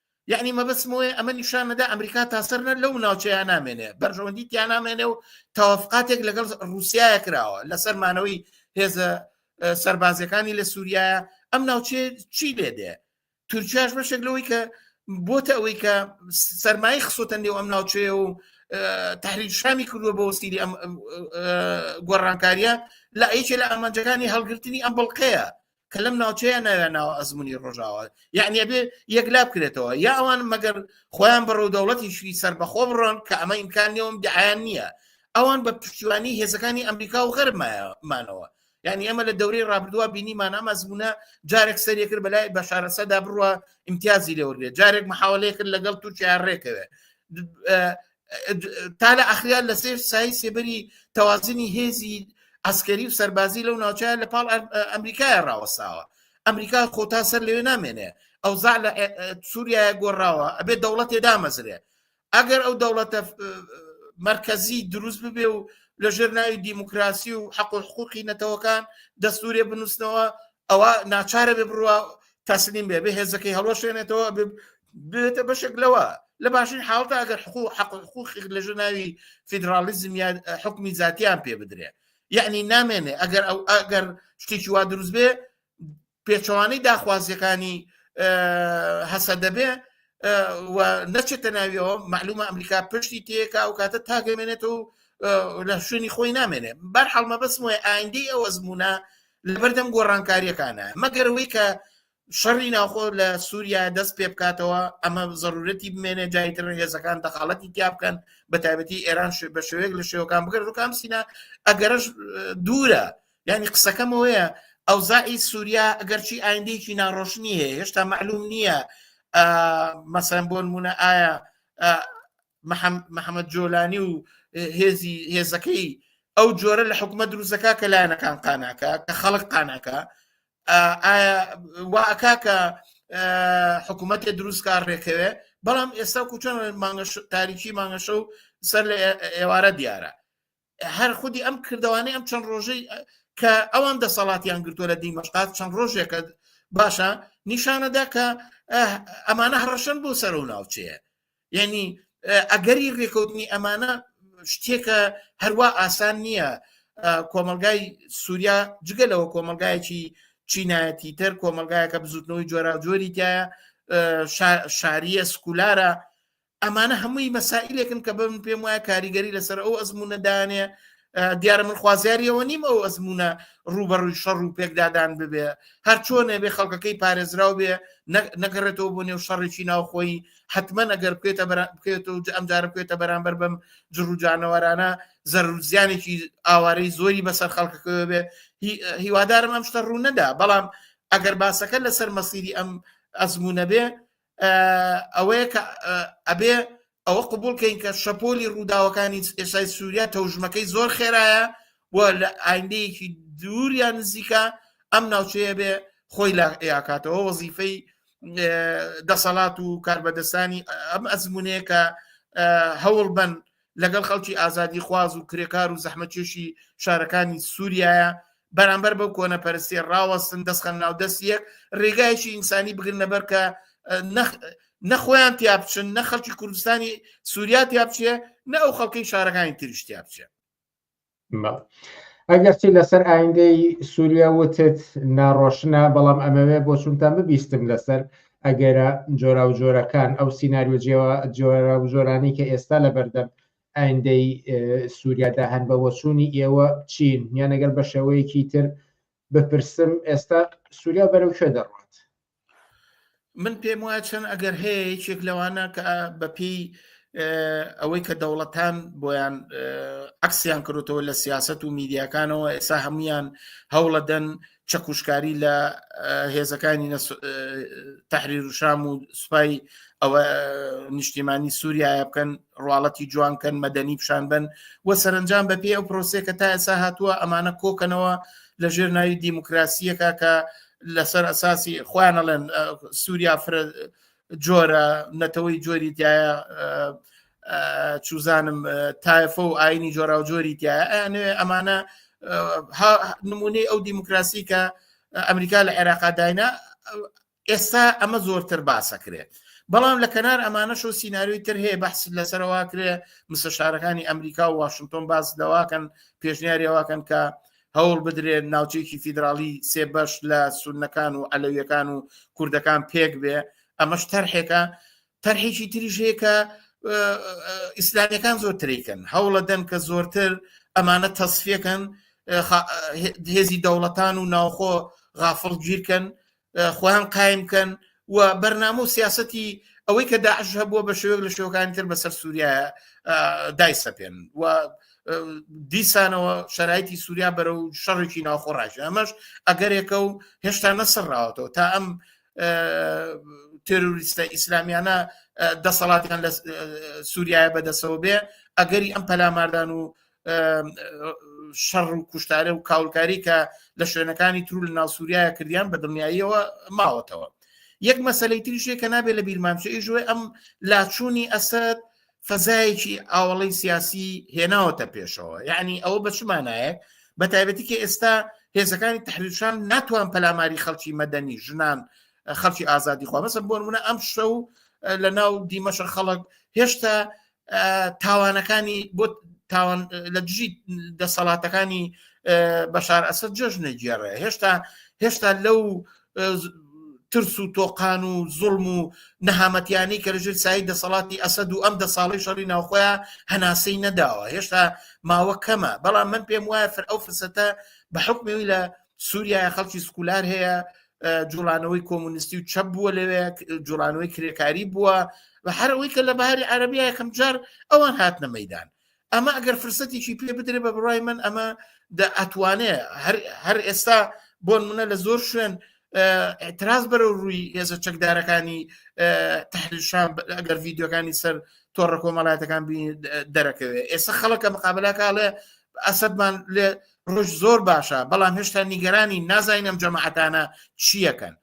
یەعنی مەبەستم ئەوەیە ئەمە نیشان نەدا ئەمریکا تا سەر نە لەو ناوچەیان نامێنێ بەرژەوەندی تیا نامێنێ و تەوافقاتێک لەگەڵ رووسایە کراوە لەسەر مانەوەی هێزە سربازەکانی لە سووریایە ئەم ناوچێ چی لێ دێ تورکیاش بەشێک لەوەی کە بۆتە ئەوەی کە سەرمایە خسۆتە نێو ئەم ناوچێ و تحریک شامی کردووە بۆ وەسیری ئەم گۆڕانکاریە لە ئەیچێ لە ئامانجەکانی هەڵگرتنی ئەم بڵقەیە کە لەم ناوچەیە ناوێ ناوە ئەزمموی ڕۆژاوە یعنی بێ یەکلا بکرێتەوە یا ئەوان مەگەر خۆیان بەڕوو دەوڵەتیشی سربەخۆ بڕۆن کە ئەمە ئیمکان نێوم دیعیان نییە ئەوان بە پشتیوانی هێزەکانی ئەمریکا و غەرمانەوە یعنی ئەمە لە دەورەی ڕابردووە بینیمان ئەم ئەزمونە جارێک سەرێ کرد بەلای بە شارەسەدا بڕوە امتیازی لێوەێ جارێک محاولەیە کرد لەگەڵ تورکیا ڕێکەوێ تا لە ئەخریان لە سێر سای سێبەری تەوازنی هێزی ئەسکەری و سەربازی لەو ناوچە لە پاڵ ئەمریکای ڕاوەساوە ئەمریکا خۆ تا سەر لەوێ نامێنێ ئەو زا لە سووریا گۆڕاوە ئەبێ دەوڵەتێ دامەزرێ ئەگەر ئەو دەوڵەتە مرکزی دروست ببێ و لە ژێر ناوی دیموکراسی و حەق و حقوقی نەتەوەکان دەستورێ بنووسنەوە ئەوە ناچارە بێ بڕوا تەسلیم بێ بێ هێزەکەی هەڵۆشێنێتەوە بێتە بەشێک لەوە لە باشین حاڵتە ئەگەر حقوق حق حقوق لە ژناوی فیدراالیزم یا حکمی زیاتیان پێ بدرێ یعنی نامێنێ ئەگەر ئەو ئەگەر شتێکی وا دروست بێ پێچەوانەی داخوازیەکانی هەسە دەبێ نەچێتە ناویەوە معلومە ئەمریکا پشتی تێکا و کاتە تاگەمێنێت و لە شوێنی خۆی نامێنێ بەر حڵمە بەسم وە ئایندی ئەو ئەزمونە لەبەردەم گۆڕانکاریەکانە مەگەر ئەوەی کە شەڕی ناوخۆ لە سووریا دەست پێ بکاتەوە ئەمە زەرورەتی بمێنێ جایتر هێزەکان دەخاڵەتی تیا بکەن بە تایبەتی ئێران بە شوێک لە شێوەکان بگەر ڕووکان سینا ئەگەرش دوورە ینی قسەکەمەوەیە ئەو زائی سووریا ئەگەرچی ئایندێکی ناڕۆشنی هەیە هێشتا معلوم نییە مەسەن بۆ نمونە ئایا محەممەد جۆلانی و هێزی هێزەکەی ئەو جۆرە لە حکومە دروستەکە کە لایەنەکان قاناکە کە خەڵک قاناکە واکا کە حکوومەتێ دروستکار ڕێکەوێ بەڵام ئێستا کوچۆن مانگەش تاریکی مانگەشە و سەر لە ئێوارە دیارە هەر خودی ئەم کردوانەی ئەم چەند ڕۆژەی کە ئەوان دەسەڵاتیان گرتوە لە دیمەشقات چەند ڕۆژێکە باشە نیشانەدا کە ئەمانە هەڕەشن بۆ سەر و ناوچەیە یعنی ئەگەری ڕێکەوتنی ئەمانە شتێکە هەروە ئاسان نییە کۆمەلگای سووریا جگە لەوە کۆمەلگایەکی چینایەتی تر کۆمەلگایەکە بزوتنەوەی جۆراجۆری تایە شاریە سکولارە ئەمانە هەمووی مەسائلێکن کە بم پێم وایە کاریگەری لەسەر ئەو ئەزمونە دانێ دیارە من خوازیاریەوە نیم ئەو ئەزمونە ڕوبەڕووی شەڕ و پێکدادان ببێ هەر چۆنێ بێ خەڵکەکەی پارێزراو بێ نەگەڕێتەوە بۆ نێو شەڕێکی ناوخۆی حتممە نەگەر بکێتە بکێت و ئەم جارە بکێتە بەرامبەر بەم جڕوجانەوەرانە زەرزیانێکی ئاوارەی زۆری بەسەر خەڵکەکەوە بێ هیوادارم ئەم شتە ڕوو نەدا بەڵام ئەگەر باسەکە لەسەر مەسیری ئەم ئەزمونە بێ ئەوەیە کە ئەبێ ئەوە قوبولکەین کە شەپۆلی ڕووداوەکانی ئێسای سووریا تەوژمەکەی زۆر خێرایە و لە ئایندەیەکی دووریان نزیکە ئەم ناوچەیە بێ خۆی لە یاکاتەوە وەزیفەی دەسەڵات و کاربەدەستانی ئەم ئەزمونەیە کە هەوڵ بن لەگەڵ خەڵکی ئازادیخواز و کرێکار و زەحمەتکێشی شارەکانی سووریایە بەرامبەر بەو کۆنەپەرستێ ڕاوەستن دەستخەن ناو دەست یەک ڕێگایشی ئینسانی بگرنەبەر کە نەخۆیان تیا بچن نە خەڵکی کوردستانی سووریا تیا بچێ نە ئەو خەڵکەی شارەکانی تریش تیا بچێ ئەگەرچی لەسەر ئایندەی سووریا وتت ناڕۆشنە بەڵام ئەمەوێ بۆ چونتان ببیستم لەسەر ئەگەرە جۆرا و جۆرەکان ئەو سینناریۆ جۆرا و جۆرانی کە ئێستا لە بەردەم ئایندەی سووریادا هەن بە وەچوونی ئێوە چین یان ئەگەر بە شێوەیەکی تر بپرسم ئێستا سووریا بەرەو کوێ دەڕوات من پێم وایە چەند ئەگەر هەیە یەکێک لەوانە کە بەپی ئەوەی کە دەوڵەتان بۆیان عکسیان کردوتەوە لە سیاست و میدیاکانەوە ئێسا هەمویان هەوڵەدەن چەکوشکاری لە هێزەکانی تحریر و شام و سوپای ئەوە نیشتیمانی سووریا بکەن ڕواڵەتی جوانکەن مەدەنی پیشان بن و سەرنجام بەپی ئەو پرۆسێکە تا ئێسا هاتووە ئەمانە کۆکەنەوە لە ژێر ناوی دیموکراسیەکە کە لەسەر ئەساسی خۆیان ئەڵێن سووریا فرە جۆرە نەتەوەی جۆری تایە چوزانم تایفە و ئاینی جۆرا و جۆری تایە ئەیانێ ئەمانە نمونەی ئەو دیموکراسی کە ئەمریکا لە عێراقا داینا ئێستا ئەمە زۆرتر باسەکرێت بەڵام لە کەنار ئەمانەش و سینناریوی تر هەیە بەحس لەسەرەوە کرێ مسەشارەکانی ئەمریکا و واشنگتۆن باز لەواکەن پێشنیاریەوەکەن کە هەوڵ بدرێن ناوچەیەکی فیدراڵی سێ بەش لە سونەکان و ئەلەویەکان و کوردەکان پێک بێ ئەمەش تەرحێکە تەرحێکی تریژەیەکە ئیسلامیەکان زۆر تریکەن هەوڵە دەن کە زۆرتر ئەمانە تەسفەکەن هێزی دەوڵەتان و ناوخۆ غافڵ گیرکەن خۆیان قایم بکەن و بەرنامە و سیاستی ئەوەی کە داعش هەبووە بە شێوەک لە شێوەکانی تر بەسەر سووریا دایسەپێن و دیسانەوە شەرایتی سووریا بەرە و شەڕێکی ناوخۆ ڕژە ئەمەش ئەگەرێکە و هێشتا نەسەرراوەتەوە تا ئەم تروریستە ئیسلامیانە دەسەڵاتیان لە سووریای بەدەسەوە بێ ئەگەری ئەم پەلاماردان و شەڕ و کوشتارە و کاولکاری کە لە شوێنەکانی ترو لە ناوسووریایە کردیان بە دڵنیاییەوە ماوەتەوە یەک مەسلەی تریشێک کە نابێت لە بیرمانچەی ژوێ ئەم لاچوونی ئەسد فەزایەکی ئاوڵەی سیاسی هێناوەتە پێشەوە یعنی ئەوە بەچمانایە بە تایبەتی کە ئێستا هێزەکانی تحریشان ناتوان پەلاماری خەڵکی مەدەنی ژنان خەڵکی ئازادی خوا مەسە بۆ منە ئەم شە و لە ناو دیمەشە خەڵک هێشتا تاوانەکانی بۆ تاوان لە دژی دەسەڵاتەکانی بەشار ئەسد جۆش نەگێڕێ هێشتا هێشتا لەو ترس و تۆقان و زڵم و نەهامەتیانی کە لەژێر سایی دەسەڵاتی ئەسد و ئەم دە ساڵی شەڕی ناوخۆیان هەناسەی نەداوە هێشتا ماوە کەمە بەڵام من پێم وایە فر ئەو فرسەتە بە حکمەوەی لە سووریای خەڵکی سکولار هەیە جوڵانەوەی کۆمونیستی و چەپ بووە لەوێ جوڵانەوەی کرێکاری بووە بە هەرەوەی کە لە باری عربی یەکەم جار ئەوان هاتنە مەدان ئەمە ئەگەر فرسەتێکی پێ بدرێ بە بڕای من ئەمە ئەتوانێ هەر ئێستا بۆن منە لە زۆر شوێن ئەتراز بەرە ڕووی هێزە چەکدارەکانی تحریشان ئەگەر ڤیددیوەکانی سەر تۆڕە کۆمەڵاتەکان دەرەکەوێت ئێستا خەڵکە مقابلەکەڵێ ئەسەدمان لێ ڕۆژ زۆر باشە بەڵام هێشتا نیگەرانی نازانینم جەماعەتانە چیەکەن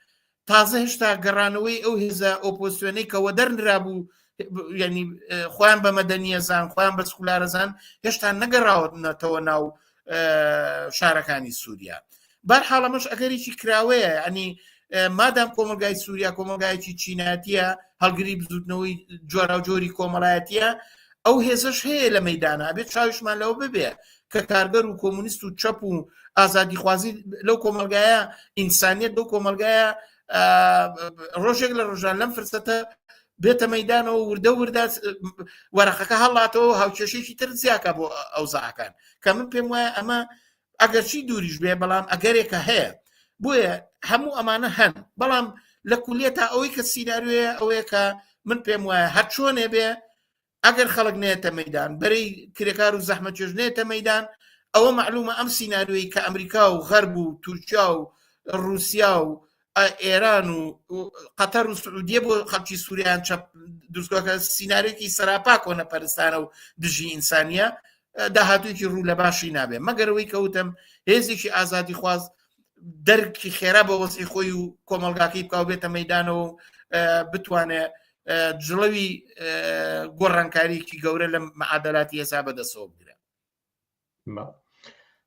تازە هێشتا گەڕانەوەی ئەو هێزە ئۆپۆسیۆنەی کەەوە دەرنرابوو ینی خۆیان بە مەدەنیە زان خۆیان بە سکولارەزان هێشتا نەگەڕاوەتەوە ناو شارەکانی سووریا بار حاڵەمەش ئەگەریی کراوەیە ئەنی مادام کۆمەلگای سووریا کۆمەلگایەکی چیناتیە هەڵگری بزوتنەوەی جۆراوجۆری کۆمەڵایەتە ئەو هێزش هەیە لە مەدانا بێت چاویشمان لەو ببێ کە کارگەر و کۆمونیست و چەپ و ئازادیخوازی لەو کۆمەلگایە ئینسانیت بەو کۆمەلگایە ڕۆژێک لە ڕژان لەم فرسەتە بێتە مەدانەوە وردە وردە وەرەخەکە هەڵاتەوە هاوکێشێکی تر زیاکە بۆ ئەو زعکان کە من پێم وایە ئەمە ئەگەرچی دووریش بێ بەڵام ئەگەرێکە هەیە بۆیە هەموو ئەمانە هەن بەڵام لە کولیە تا ئەوەی کە سینناروێ ئەوەیە کە من پێم وایە هەر چۆنێ بێ ئەگەر خەڵک نێتە مەدان بەری کرێکار و زەحمە چێژ نێتە مەدان ئەوە معلومە ئەم سینناروی کە ئەمریکا و غەرب و تورکیا و رووسیا و ئێران و قەتەر و سعودیە بۆ خەڵکی سووریان چەپ دروستگەکە سینناارێکی سەراپا کۆنە پەرستانە و دژی ئینسانیە داهاتوێکی ڕوو لە باشی نابێ مەگەرەوەی کەوتم هێزێکی ئازادی خواز دەرکی خێرا بە وەزی خۆی و کۆمەلگاکەی بکاو بێتە مەدانەوە بتوانێت جڵەوی گۆڕانکاریکی گەورە لە مەعادلاتی هێسا بەدەسەوە بگرە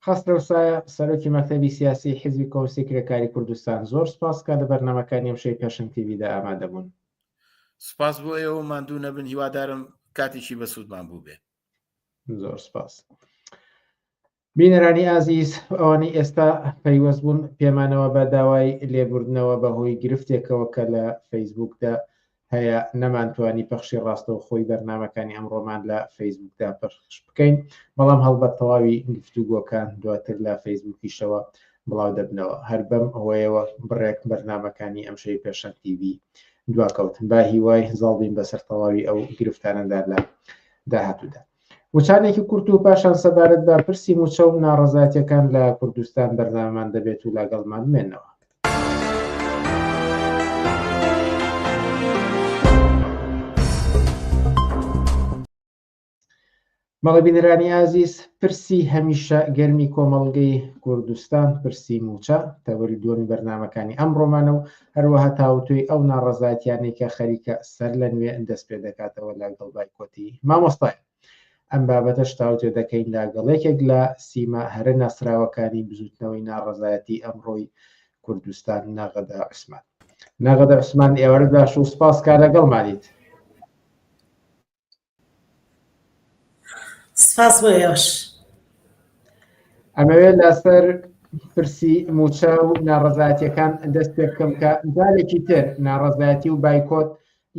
خستەوە سایە سەرۆکی مەکتەبی سیاسی حزبی کۆسی کرێکاری کوردستان زۆر سپاس کا لە بەرنمەکانی ئەمشەی پێشن تیویدا ئامادەبوون سپاس بۆ ئێوە ماندوو نەبن هیوادارم کاتێکی بەسوودمان بوو بێ زۆر سپاس. بینەرانی ئازیز ئەوانەی ئێستا پەیوەست بوون پێمانەوە بە داوای لێبوردنەوە بە هۆی گرفتێکەوە کە لە فەیسبوکدا هەیە نەمانتوانی پەخشی ڕاستەوە خۆی بەرنمەکانی ئەمڕۆمان لە فەیسبوکدا پەخش بکەین بەڵام هەڵبە تەواوی گفتوگۆکان دواتر لە فەیسبوکیشەوە بڵاو دەبنەوە هەر بەم ئەوەیەوە بڕێک بەرنمەکانی ئەمشەی پێشەن تیوی دواکەوتن با هیوای زاڵبین بەسەر تەواوی ئەو گرفتانەدا لە داهاتوودا وچانێکی کورت و پاشان سەبارەت بە پرسی موچە و ناڕەزایەتیەکان لە کوردستان بەرنامەمان دەبێت و لاگەڵمان بمێنەوە. مەڵبینرانی ئازیز پرسی هەمیشە گەرمی کۆمەڵگەی کوردستان پرسی موچە تەوەری دووەمی بەرنمەکانی ئەم ڕۆمانە و هەروەها تاوتوێی ئەو ناڕەزایەتیانەی کە خەریکە سەرلەنوێ دەست پێ دەکاتەوە لەگەڵ بایکۆتی مامۆستای ئەم بابەتەش تاوتوێ دەکەین لەگەڵ یەکێک لە سیما هەرە ناسراوەکانی بزوتنەوەی ناڕەزایەتی ئەمڕۆی کوردستان ناغەدا عوسمان ناغەدا عوسمان ئێوارە باش و سپاس کا لەگەڵمانیت سپاس بۆ ئێوەش. ئەمەوێت لەسەر پرسی موچە و ناڕزاتیەکان دەست پێ بکەم کە جارێکی تر ناڕزاتی و بایکۆت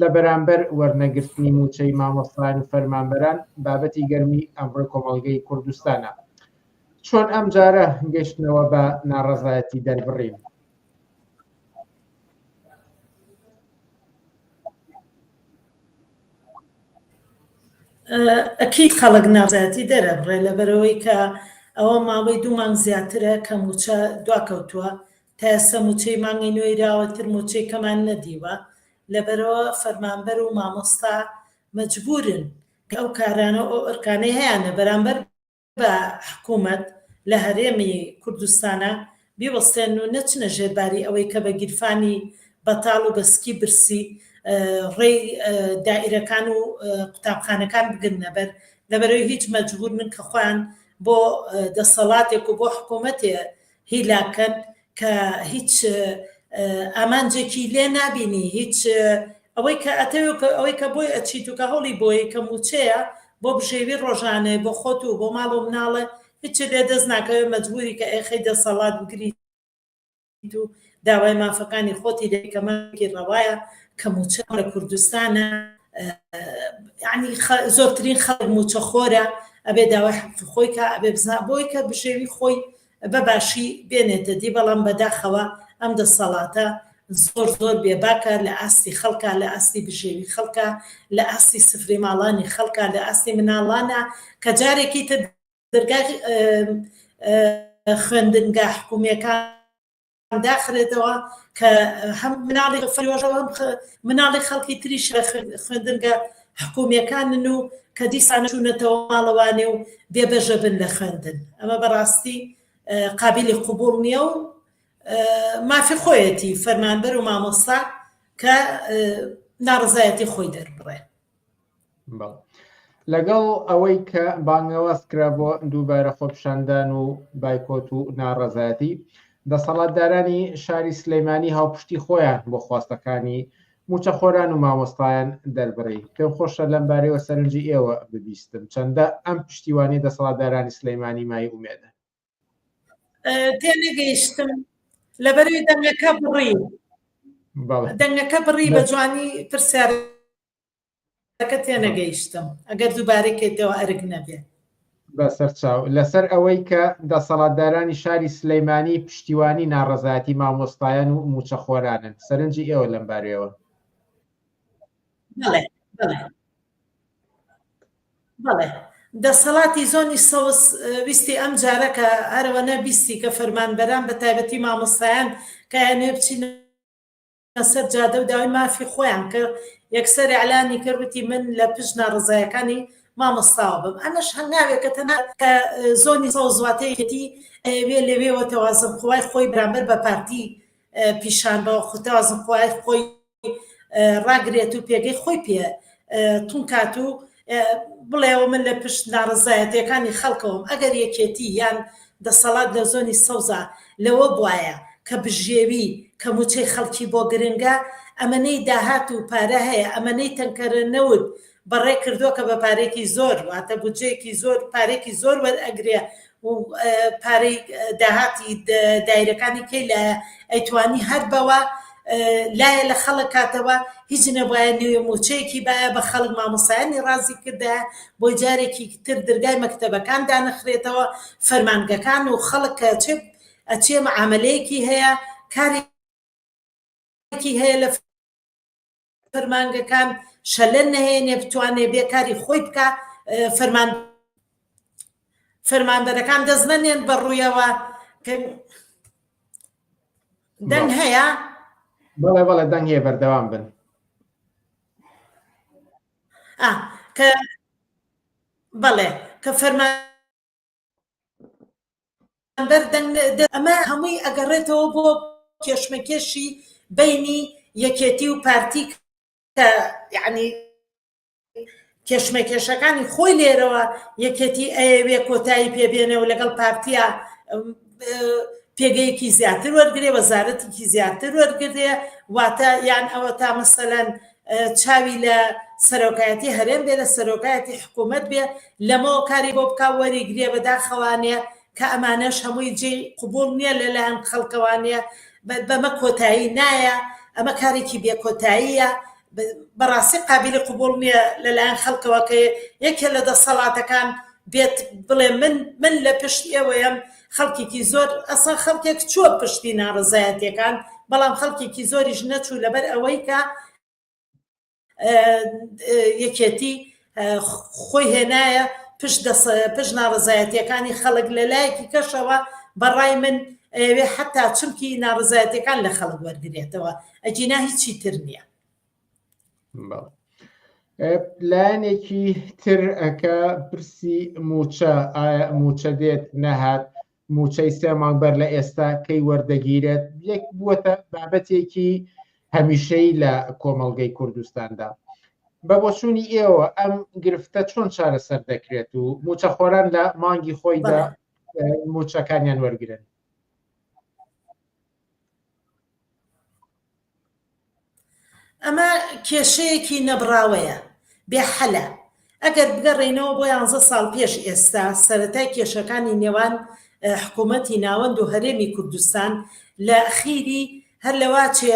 لە بەرامبەر وەرنەگرتنی موچەی مامۆستان و فەرمانبەران بابەتی گەرمی ئەمڕۆ کۆمەڵگەی کوردستانە چۆن ئەم جارە گەشتنەوە بە ناڕزایەتی دەربڕین ئەکید خەڵک ناڕزایەتی دەرەبڕێ لەبەرئەوەی کە ئەوە ماوەی دوو مانگ زیاترە کە مووچە دواکەوتووە تا ئێستا مووچەی مانگی نۆی راوەتر مووچەی کەمان نەدیوە لەبەرئەوە فەرمانبەر و مامۆستا مەجبوورن کە ئەو کارانە و ئەو ئەرکانەی هەیانە بەرامبەر بە حکوومەت لە هەرێمی کوردستانا بیوەستێن و نەچنە ژێر باری ئەوەی کە بە گیرفانی بەتاڵ و بە سکی برسی ڕێی دائیرەکان و قوتابخانەکان بگرنە بەر لەبەرەوەی هیچ مەجبوور من کە خۆیان بۆ دەسەڵاتێک و بۆ حکوومەتێ هیلاکت کە هیچ ئامانجێکی لێ نابینی هیچ ئەوەی کە ئەتەوێت کە ئەوەی کە بۆی ئەچیت و کە هەوڵی بۆی کە موچەیە بۆ بژێوی ڕۆژانێ بۆ خۆت و بۆ ماڵ و مناڵێ هیچ لێ دەست ناکەوێت مەجبوری کە ئێخەی دەسەڵات بگریت و داوای مافەکانی خۆتی دەکەی کە مافێکی ڕەوایە کە مووچە لە کوردستانە یعنی زۆرترین خەڵک مووچە خۆرە ئەبێ داوای حەقی خۆی کە ئەبێ بزا بۆی کە بژێوی خۆی بە باشی بێنێتە دی بەڵام بەداخەوە ئەم دەسەڵاتە زۆر زۆر بێباکە لە ئاستی خەڵکە لە ئاستی بژێوی خەڵکە لە ئاستی سفری ماڵانی خەڵکە لە ئاستی مناڵانە کە جارێکی تر دەرگای خوێندنگا حکومیەکان داخرێتەوە کە هەم مناڵی فرۆژەوە هەم مناڵی خەڵکی تریش لە خوێندنگە حکومیەکانن و کە دیسان چوونەتەوە ماڵەوانێ و بێبەژە بن لە خوێندن ئەمە بەڕاستی قابلی قوبول نییە و مافی خۆیەتی فەرمانبەر و مامۆستا کە ناڕزایەتی خۆی دەربڕێ لەگەڵ ئەوەی کە بانگەواز کرا بۆ دووبارە خۆپشاندان و بایکۆت و ناڕەزایەتی دەسەڵاتدارانی شاری سلەیمانی هاوپشتی خۆیان بۆ خواستەکانی موچەخۆران و مامۆستایان دەربڕی پێم خۆشە لەم بارەوە سەرنجی ئێوە ببیستم چەندە ئەم پشتیوانی دەسەڵاتدارانی سلەیمانی مای ئومێدە تێنەگەیشتم لەبەروی دەنگەکە بڕی دەنگەکە بڕی بە جوانی پرسیارەکە تێنەگەیشتم ئەگەر دووبارەکەیتەوە ئەرک نەبێت بەسەر چاو لەسەر ئەوەی کە دەسەڵاتدارانی شاری سلەیمانی پشتیوانی ناڕزایەتی مامۆستایان و موچەخۆرانن سەرنجی ئێوە لەم بارەوە بەڵێ دەسەڵاتی زۆنی سەوز ویستی ئەم جارە کە هەرەوەنە بیستی کە فەرمانبەران بە تایبەتی مامۆستایان کە یانێ بچینە سەر جادە و داوای مافی خۆیان کە یەکسەر ئەلانی کرد وتی من لە پشت ناڕزایەکانی مامۆستاوە بم ئەمەش هەنگاوێکە تەنها کە زۆنی سەوزواتەیەتی ئەوێ لەوێوە تەوازن خۆی خۆی بەرامبەر بە پارتی پیشان بە خوتەوازن خۆی خۆی ڕاگرێت و پێگەی خۆی پێ تونکات و بڵێەوە من لە پشت ناڕزایەتەکانی خەڵکەوەم ئەگەر یەکێتی یان دەسەڵات لە زۆنی سەوزا لەوە بواە کە بژێوی کە موچەی خەڵکی بۆ گرنگە ئەمەەی داهات و پارە هەیە ئەمەەی تەنکەرە نەوت بەڕێ کردووە کە بە پارەیەکی زۆر واتە بودجەیەکی زۆر پارێکی زۆر وەرئەگرێ و پارەی داهاتی دایرەکانی کەی لە ئەیتوانی هەر بەوە لایە لە خەڵک کاتەوە هیچ نەبایە نوێ موچەیەکی باە بە خەڵک مامۆسایانی ڕازی کردا بۆ جارێکی تر دەرگای مەکتتەبەکان دانەخرێتەوە فەرمانگەکان و خەڵک کە چ ئەچێ معاملەیەکی هەیە کاری هەیە لە فەرمانگەکان شەلە نەهێنێ بتوانێ بێ کاری خۆی بکە فەرمان فەرمانبەرەکان دەست نەنێن بە ڕوویەوە دەنگ هەیە بەڵێ بەڵێ دەنگ هەیە بەردەوام بن کە بەڵێ کە فەرمان ئەمە هەمووی ئەگەڕێتەوە بۆ کێشمەکێشی بەینی یەکێتی و پارتی کە یعنی کێشمەکێشەکانی خۆی لێرەوە یەکێتی ئەیەوێ کۆتایی پێبێنە و لەگەڵ پارتیا پێگەیەکی زیاتر وەرگێ وەزارەتێکی زیاتر وەرگێ واتە یان ئەوە تا مەسەەن چاوی لە سەرۆکایەتی هەرێم بێ لە سەرۆکایەتی حکوومەت بێ لەمەوە کاری بۆ بک وەریگرێ بەداخەوانێ کە ئەمانەش هەمووی جێ قوبول نییە لەلایەن خەڵکەوانە بەمە کۆتایی نایە ئەمە کارێکی بێکۆتاییە بەڕاستی قابلی قوبول نییە لەلایەن خەڵکەوەکە یەکێ لە دەسەڵاتەکان بێت بڵێ من من لە پشت ئێوەیەم خەڵکێکی زۆر ئەسڵەن خەڵکێک چووە پشتی ناڕەزایەتیەکان بەڵام خەڵکێکی زۆریش نەچوو لەبەر ئەوەی کە یەکێتی خۆی هێنایە پشت پشت ناڕزایەتەکانی خەڵک لە لایەکی کەشەوە بەڕای من ئەوێ حتا چمکی ناڕزایەتەکان لە خەڵک وەرگێتەوە ئەجینا هیچی تر نییە لایەنێکی تر ئەکە پرسی موچە ئایا موچە دێت نەهات موچەی سێ مانگ بەر لە ئێستا کەی وەردەگیرێت یەک بووەتە بابەتێکی هەمیشەی لە کۆمەڵگەی کوردستاندا بە بۆچوونی ئێوە ئەم گرفتە چۆن چارەسەر دەکرێت و موچە خۆران لە مانگی خۆیدا موچەکانیان وەرگن ئەمە کێشەیەکی نەبڕاوەیە، بێ حەلە. ئەگەر بگەڕێینەوە بۆ یانزە ساڵ پێش ئێستا، سەرەتای کێشەکانی نێوان حکوومەتی ناوەند و هەرێمی کوردستان لە ئەخیری هەر لە واچێ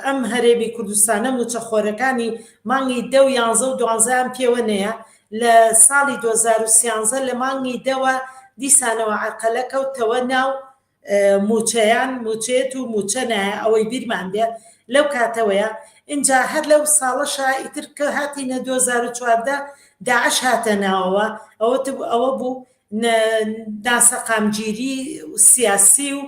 ئەم هەرێمی کوردستانە مووچە خۆرەکانی مانگی دە و یانزە و دوانزەیان پێوە نەیە، لە ساڵی دوو هەزار و سیانزە لە مانگی دەوە دیسانەوە عەرقەلە کەوتەوە ناو موچەیان موچێت و موچە نایە ئەوەی بیرمان بێ لەو کاتەوەیە ئینجا هەر لەو ساڵەشا ئیتر کە هاتینە 2014 داعش هاتە ناوەوە ئەوە ئەوە بوو ناسەقامگیری سیاسی و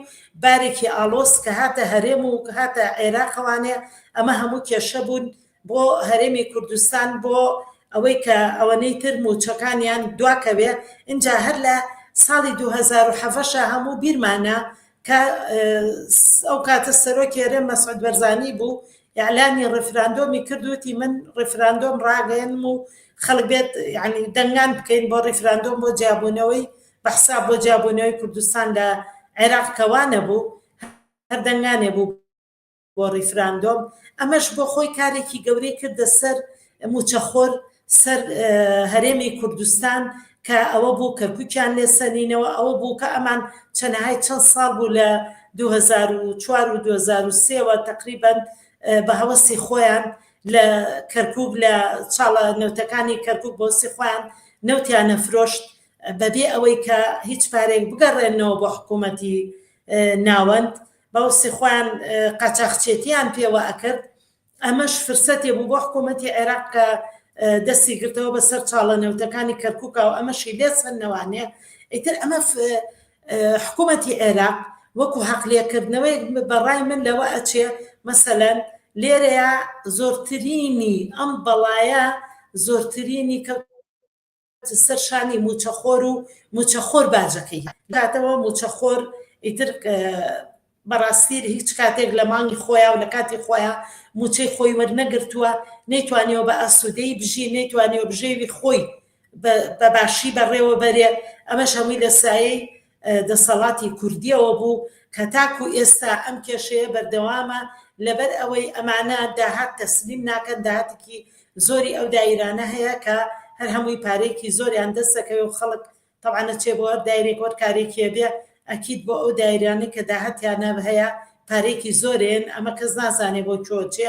بارێکی ئالۆس کە هاتە هەرێم و هاتە عێراقەوانێ ئەمە هەموو کێشە بوون بۆ هەرێمی کوردستان بۆ ئەوەی کە ئەوەنەی تر موچەکانیان دواکەوێ اینجا هەر لە ساڵی 2007 هەموو بیرمانە کە ئەو کاتە سەرۆکی هەرێم مەسعود بەرزانی بوو ئەلامی ڕفراندۆمی کردوتی من ڕفراندۆم ڕاگەێنم و خەڵک بێت ینی دەنگان بکەین بۆ ڕیفراندۆم بۆ جیابوونەوەی بەحسا بۆ جیابوونەوەی کوردستان لە عێراق کەوانە بوو هەردەنگانێ بوو بۆ ڕیفراندۆم ئەمەش بۆ خۆی کارێکی گەورەی کردە سەر موچەخۆر سەر هەرێمی کوردستان کە ئەوە بوو کە کوچیان لێسەنینەوە ئەوە بوو کە ئەمان چەنەهای چەند ساڵ بوو لە 2004 و 2023وە تقریبان بە هەوەسی خۆیان لە کەرکک لە چاڵە نەوتەکانی کەرکک بۆسی خۆیان نەوتیان نەفرۆشت بەبێ ئەوەی کە هیچ پارێک بگەڕێنەوە بۆ حکوومەتی ناوەند باوسی خۆیان قاچاخچێتیان پێوە ئەکرد ئەمەش فرسەتێ بوو بۆ حکوومەتی عێراق کە دەستی گرتەوە بە سەر چاڵە نەوتەکانی کەرکووکا و ئەمەشی لێ سندنەوانێ ئیتر ئەمە حکوومەتی عێراق وەکو حەقلێکردنەوەی بەڕای من لەوە ئەچێ مەسەەن لێرەیە زۆرترینی ئەم بەڵایە زۆرترینی کە سەر شانی موچەخۆر و موچەخۆر باجەکەی داتەوە موچەخۆر ئیتر بەڕاستیر هیچ کاتێک لە مانگی خۆیان و لە کاتی خۆیان موچەی خۆی وەرنەگرتووە نەیتوانیەوە بە ئاسوودەی بژی نەیتوانیەوە بژێوی خۆی بە باشی بەڕێوە بەرێ ئەمەش هەمووی لە سایەی دەسەڵاتی کوردیەوە بوو کە تاکو ئێستا ئەم کێشەیە بەردەوامە لەبەر ئەوەی ئەمانە داهات تەسلیم ناکەن داهاتێکی زۆری ئەو دایرانە هەیە کە هەر هەمووی پارێکی زۆریان دەست دەکەوێت و خەڵک طبعا نەچێ بۆ هەر دایرێک وەر کارێکیە بێ ئەکیید بۆ ئەو دایرانەی کە داهاتیانە هەیە پارێکی زۆرێن ئەمە کەس نازانێ بۆ چۆ چێ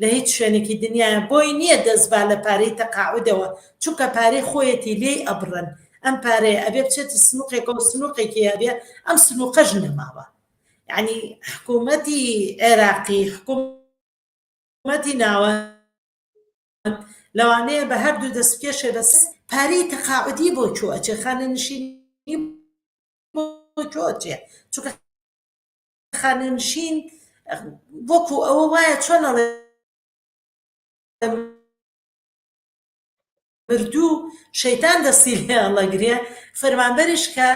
لە هیچ شوێنێکی دنیایا بۆی نیە دەست با لە پارەی تەقاعودەوە چونکە پارەی خۆیەتی لێی ئەبڕن ئەم پارەیە ئەبێ بچێتە سنوقێکەوە سنوقێکی ئەبێ ئەم سنوقەش نەماوە یعنی حکومەتی عێراقی حکومەتی ناوە لەوانەیە بە هەردوو دەست کێشێ بەس پارەی تەقاعودی بۆ چۆ ئەچێ خانە نشینی بۆ چۆ ئەچێ چونکە خانەنشین وەکو ئەوە وایە چۆن ئەڵێ مردوو شەیتان دەستی لێ هەڵەگرێ فەرمانبەرش کە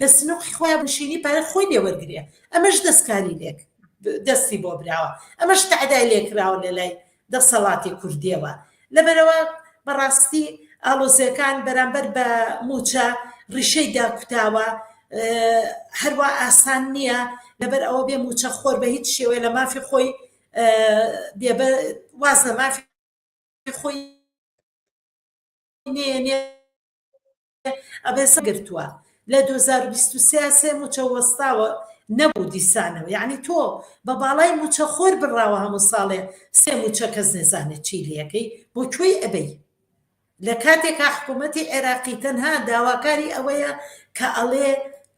لە سنوقی خۆیان بنشینی پارە خۆی لێ وەرگرێ ئەمەش دەستکاری لێک دەستی بۆ براوە ئەمەش تەعدای لێکراوە لە لای دەسەڵاتی کوردیەوە لەبەرئەوە بەڕاستی ئاڵۆزیەکان بەرامبەر بە موچە ڕیشەی داکوتاوە هەروا ئاسان نییە لەبەر ئەوە بێ موچە خۆر بە هیچ شێوەیە لە مافی خۆی بێبە واز لە مافی خۆی نێنێ ئەبێسە گرتووە لە 2023 سێ موچە وەستاوە نەبوو دیسانەوە یعنی تۆ بە باڵای موچە خۆر بڕاوە هەموو ساڵێ سێ موچە کەس نێزانێت چی لەکەی بۆ کوێی ئەبەی لە کاتێکا حکوومەتتی عێراقی تەنها داواکاری ئەوەیە کە ئەڵێ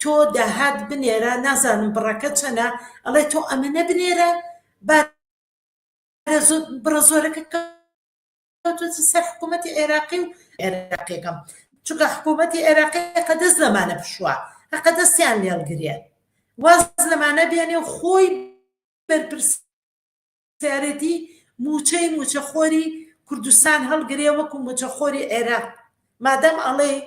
تۆ داهات بنێرە نازانم بڕەکە چەنە ئەڵێ تۆ ئەمەە بنێرە با بڕە زۆرەکە کەوتووتە سەر حکوومەتی عێراقی و عێراقیەکەم چونکە حکوومەتی عێراقی قەدەست لەمانە پشووە هەقەدەستیان لێڵگرێ واز لەمانە بێنێ و خۆی بەرپرس سیارەتی موچەی موچەخۆری کوردستان هەڵگرێ وەکو موچەخۆری عێراق مادام ئەڵێی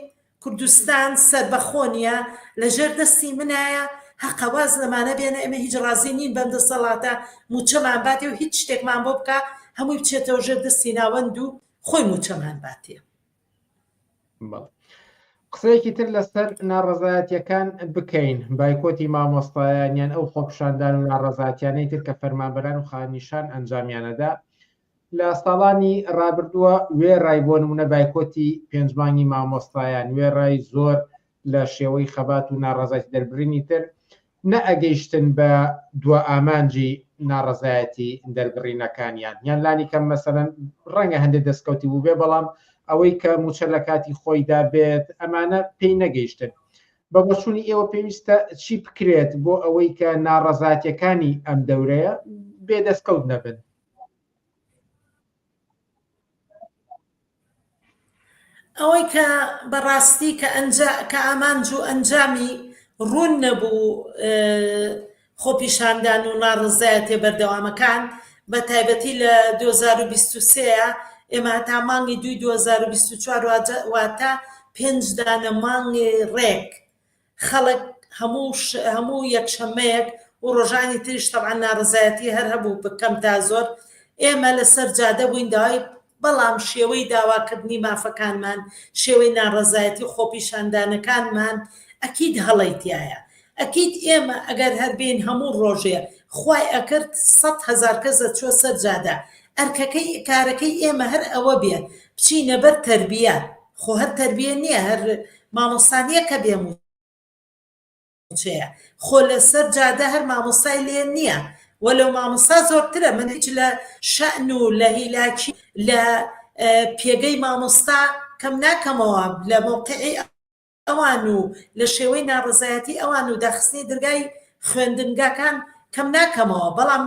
کوردستان سەربەخۆ نیە لەژێر دەستی منایە هەقە واز لەمانە بێنە ئێمە هیچ ڕازی نین بەم دەسەڵاتە موچەمان باتێ و هیچ شتێکمان بۆ بکا هەمووی بچێتەوە ژێر دەستی ناوەند و خۆی موچەمان باتێ قسەیەکی تر لەسەر ناڕزایەتەکان بکەین بایکۆتی مامۆستایانیان ئەو خۆپشاندان و ناڕزاتیانەی تر کە فەرمانبەران و خانیشان ئەنجامیانەدا لە ساڵانی ڕابردووە وێڕای بۆ نموونە بایکۆتی پێنج مانگی مامۆستایان، وێڕای زۆر لە شێوەی خەبات و ناڕەزایەتی دەربڕینی تر، نەئەگەیشتن بە دوا ئامانجی ناڕەزایەتی دەربڕینەکانیان، یان لانی کەم مەسەلەن ڕەنگە هەندێ دەستکەوتی بووبێ، بەڵام ئەوەی کە مووچە لە کاتی خۆیدا بێت، ئەمانە پێی نەگەیشتن. بە بۆچوونی ئێوە پێویستە چی بکرێت بۆ ئەوەی کە ناڕەزایەتییەکانی ئەم دەورەیە بێ دەستکەوت نەبن؟ ئەوەی کە بەڕاستی کە ئەنجا کە ئامانج و ئەنجامی ڕوون نەبوو خۆپیشاندان و ناڕەزایەتیە بەردەوامەکان بە تایبەتی لە 2023ەیە ئێمە هەتا مانگی دووی 2024 واتە پێنج دانە مانگی ڕێک خەڵک هەموو هەموو یەکشەمەیەک و ڕۆژانی تریش تەبعا ناڕزایەتی هەر هەبوو بکەم تا زۆر ئێمە لەسەر جادە بووین داوای بەڵام شێوەی داواکردنی مافەکانمان شێوەی ناڕزایەتی خۆپیشاندانەکانمان ئەکید هەڵی تایە ئەکییت ئێمە ئەگەر هەربین هەموو ڕۆژێ خی ئەکرد سە هزار کەس دەچوە سەر جادە ئەرکەکەی کارەکەی ئێمە هەر ئەوە بێ بچینە بەر تربیە خۆ هەر تەربیە نیە هەر مامۆستا نیە کە بێ موچەیە خۆ لە سەر جادە هەر مامۆستای لێ نیە وە لەو مامۆستا زۆرترە من هیچ لە شەن و لە هیلاکی لە پێگەی مامۆستا کەم ناکەمەوە لە مۆقعی ئەوان و لە شێوەی ناڕزایەتی ئەوان و داخستنی درگای خوێندنگاکان کەم ناکەمەوە بەڵام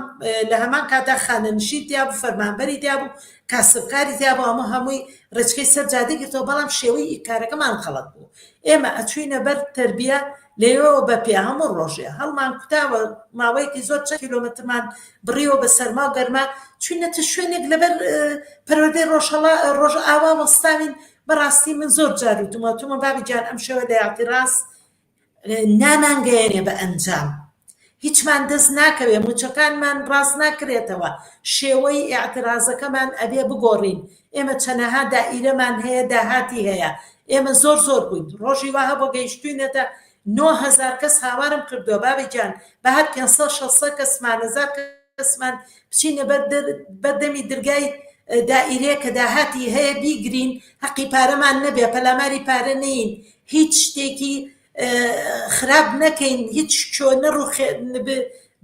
لە هەمان کاتدا خانەنشین تیابوو فەرمانبەری تیابوو کاسبکاری تیابوو ئەمە هەمووی ڕێچکەی سەر جادەی گرتەوە بەڵام شێوەی کارەکەمان خەڵەت بوو ئێمە ئەچوینە بەر تربیە لەوەوە بە پێ هەموو ڕۆژێ هەڵمان کوتاوە ماوەیەکی زۆر چە کیلومترمان بڕیەوە بە سەرما و گەرما چوینە تە شوێنێک لەبەر پەروەدەی ڕۆژهڵا ڕۆژ ئاوا وەستاوین بەڕاستی من زۆر جار و دومەتومە بابی جان ئەم شێوە لە یاتی ڕاست نامانگەیەنێ بە ئەنجام. هیچمان دەست ناکەوێ، موچەکانمان ڕاست ناکرێتەوە، شێوەی ئیعترازەکەمان ئەبێ بگۆڕین، ئێمە چەنەها دائیرەمان هەیە داهاتی هەیە، ئێمە زۆر زۆر بووین، ڕۆژی وا هەبووە گەیشتووینەتە نۆ هەزار کەس هاوارم کردووە بابی گیان بەهەر پێنج سەد شەست سەد کەس سمانەزار کەس. بەسمان بچینە بەردەمی درگای دائیرێ کە داهاتی هەیە بیگرین حەقی پارەمان نەبێ پەلاماری پارە نین هیچ شتێکی خراپ نەکەین هیچ شۆ نەڕوخێ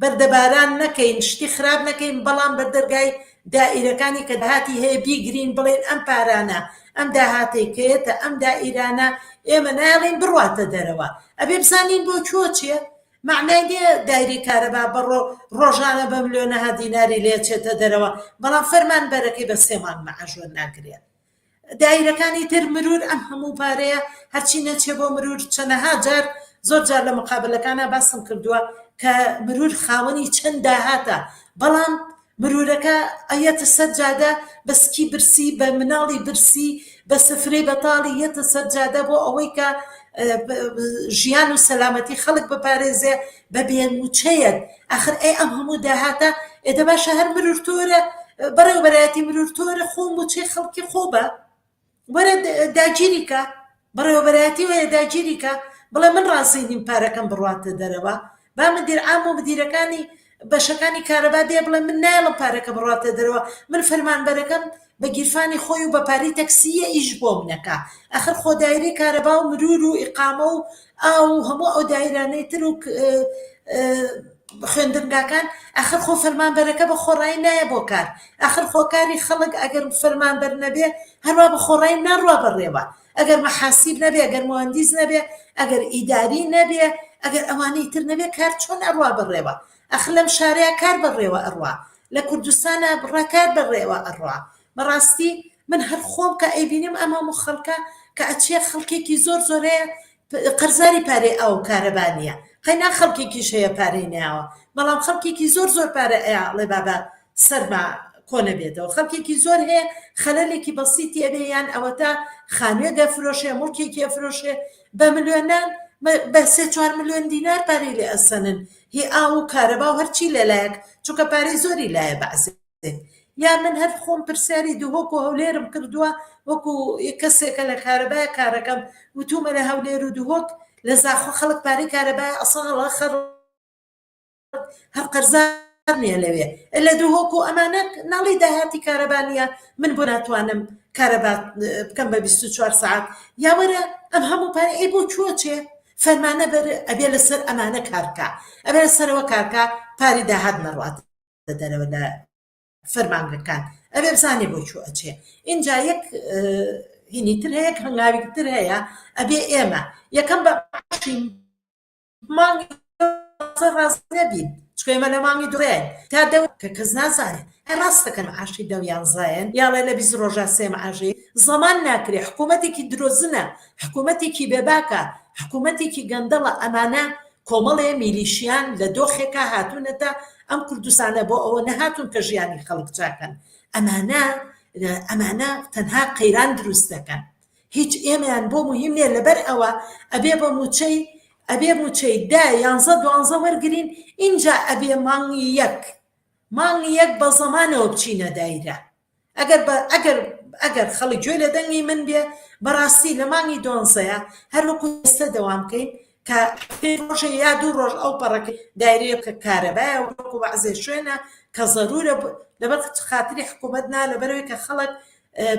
بەردەباران نەکەین شتی خراپ نەکەین بەڵام بە دەرگای دائیرەکانی کە داهاتی هەیە بیگرین بڵێن ئەم پارانە ئەم داهاتێکێتە ئەم دائیرانە ئێمە ناڵین بڕاتە دەرەوە ئەبێ بزانین بۆ چۆ چیە مەعنای نیە دایرەی کارەبا بە ڕۆژانە بە ملۆنەها دیناری لێ چێتە دەرەوە بەڵام فەرمان بەرەکەی بە سێ مانگ مەعاش وەرناگرێت دایرەکانی تر مرور ئەم هەموو پارەیە هەرچی نەچێ بۆ مرور چەنەها جار زۆر جار لە مقابلەکانە باسم کردووە کە مرور خاوەنی چەند داهاتە بەڵام مرورەکە ئەیەتە سەر جادە بە سکی برسی بە مناڵی برسی بە سفرەی بەتاڵی یەتە سەر جادە بۆ ئەوەی کە ژیان و سەلامەتی خەڵک بپارێزێ بە بێنوچەیەک ئەخر ئەی ئەم هەموو داهاتە ئێدە باشە هەر مرور تۆرە بەڕێوبەرایەتی مرور تۆرە خۆ موچەی خەڵکی خۆ بە وەرە داگیری کە بەڕێوەبەرایەتی وەیە داگیری کە بڵێ من ڕازی نیم پارەکەم بڕواتە دەرەوە با مدیر عام و مدیرەکانی بەشەکانی کارەبا دێ بڵێ من نایڵم پارەکە بڕاتە دەرەوە من فەرمانبەرەکەم بە گیرفانی خۆی و بە پاری تەکسیە ئیش بۆم نەکا ئەخر خۆدایری کارەبا و مرور و ئقامە و ئاو و هەموو ئەو دایرانەی تر و خوێندنگاکان ئەخر خۆ فەرمانبەرەکە بە خۆڕایی نایە بۆ کار ئەخر خۆکاری خەڵک ئەگەر فەرمانبەر نەبێ هەروە بە خۆڕای ناڕوا بەڕێوە ئەگەر مەحاسیب نەبێ ئەگەر مهندس نەبێ ئەگەر ئیداری نەبێ ئەگەر ئەوانەی تر نەبێ کار چۆن ئەڕوا بەڕێوە ئەخ لەم شارەیە کار بەڕێوە ئەڕوا لە کوردستانە بڕاکار بەڕێوە ئەڕوا بەڕاستی من هەر خۆم کە ئەیبینم ئەم هەموو خەڵکە کە ئەچێ خەڵکێکی زۆر زۆرەیە قەرزاری پارەی ئاو کارەبا نییە قەینا خەڵکێکیش هەیە پارەی نەیاوە بەڵام خەڵکێکی زۆر زۆر پارە ئەیاڵێ بابە سەرما کۆنە بێتەوە خەڵکێکی زۆر هەیە خەلەلێکی بەسیتی ئەبێ یان ئەوەتا خانوێ دەفرۆشێ مڵکێکی ئەفرۆشێ بە ملیۆنان بە سێ چوار ملیۆن دینار پارەی لێ ئەسەنن هی ئاو و کارەبا و هەرچی لەلایەک چونکە پارەی زۆری لایە بەعسێ بکەین یا من هەر خۆم پرسیاری دهۆک و هەولێرم کردووە وەکو کەسێکە لە کارەبای کارەکەم وتومە لە هەولێر و دهۆک لە زاخۆ خەڵک پارەی کارەبای ئەساڵە خەڕ هەر قەرزار نیە لەوێ لە دهۆک و ئەمانە ناڵی داهاتی کارەبانە من بۆ ناتوانم کارەبات بکەم بە 24 سعات یاوەرە ئەم هەموو پارە ئەی بۆ چوە چێ فەرمانە بەر ئەبێ لەسەر ئەمانە کارکە ئەبێ سەرەوە کارکە پاری داهات نەڕات دە دەرەوە لە فەرمانگەکان ئەوێ بزانێ بۆ چوو ئەچێ اینجا یەک هینی تر هەیە هەنگاوی تر هەیە ئەبێ ئێمە یەکەم بە مانگی ڕاست نەبین چکێمە لە مانگی دوێن تا دە کە کەس نازانێت ڕاستەکەن عاشی دە یانزایەن یاڵێ لە بیست ڕۆژە سێم عژێ زەمان ناکرێ حکوومەتێکی درۆزنە حکوومەتێکی بێباکە حکوومەتێکی گەندەڵە ئەمانە کۆمەڵێ میلیشیان لە دۆخێکا هاتوونەتە ئەم کوردستانە بۆ ئەوە نەهاتوون کە ژیانی خەڵک چاکەن ئەمانە ئەمانە تەنها قەیران دروست دەکەن هیچ ئێمەیان بۆ مهم نیە لەبەر ئەوە ئەبێ بە موچەی ئەبێ موچەی دا یانزە دوانزە وەرگین ئینجا ئەبێ مانگی یەک مانگی یەک بە زەمانەوە بچینە دایرە ئەگەر بە ئەگەر ئەگەر خەڵک گوێ لە دەنگی من بێ بەڕاستی لە مانگی دۆنزەیە هەر وەکو ئێستا دەوام بکەین کە ڕۆژە یا دوو ڕۆژ ئەو پەڕەکە دایرەیە کە کارەبایە وەکو بەعزێ شوێنە کە زەرورە لەبەر خاتری حکوومەت نا لەبەرەوەی کە خەڵک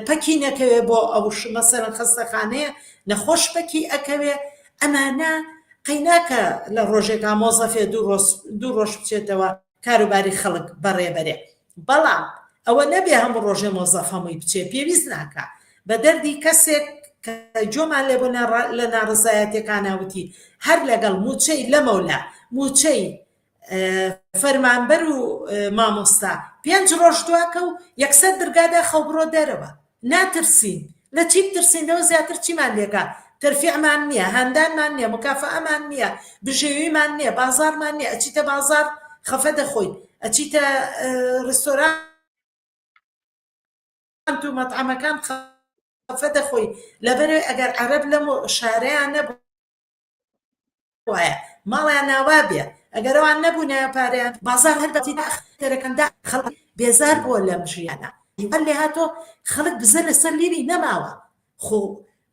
پەکی نەکەوێ بۆ ئەو مەسەرەن خەستەخانەیە نەخۆش پەکی ئەکەوێ ئەمانە قەیناکە لە ڕۆژێکا مۆزەفێ دوو ڕۆژ دوو ڕۆژ بچێتەوە کاروباری خەڵک بەڕێبەرێ بەڵام ئەوە نەبێ هەموو ڕۆژێ مۆزەف هەمووی بچێ پێویست ناکا بە دەردی کەسێک کە جۆمان لێ بۆ لە ناڕزایەتەکاناوتی هەر لەگەڵ موچەی لەمەولا موچەی فەرمانبەر و مامۆستا پێنج ڕۆژ دواکە و یەکسەر درگادا خەوبڕۆ دەرەوە ناترسین لە چی بترسین لەوە زیاتر چیمان لێکا تەرفیعمان نیە هاندانمان نیە مکافەئەمان نیە بژێویمان نیە بازاڕمان نیە ئەچیتە بازاڕ خەفە دەخۆیت ئەچیتە ڕستۆران ئەنت و مەتعەمەکان خەفە دەخۆی لەبەرێ ئەگەر عەرەب لەم شارەیان نەبوو وایە ماڵیان ناوا بێ ئەگەرەوان نەبوونایە پارەیان بازار هەر بەتی داخ تەرەکەندا خەڵک بێزار بووە لەم ژیانە دیوان لێ هاتۆ خەڵک بزە لەسەر لیری نەماوە خۆ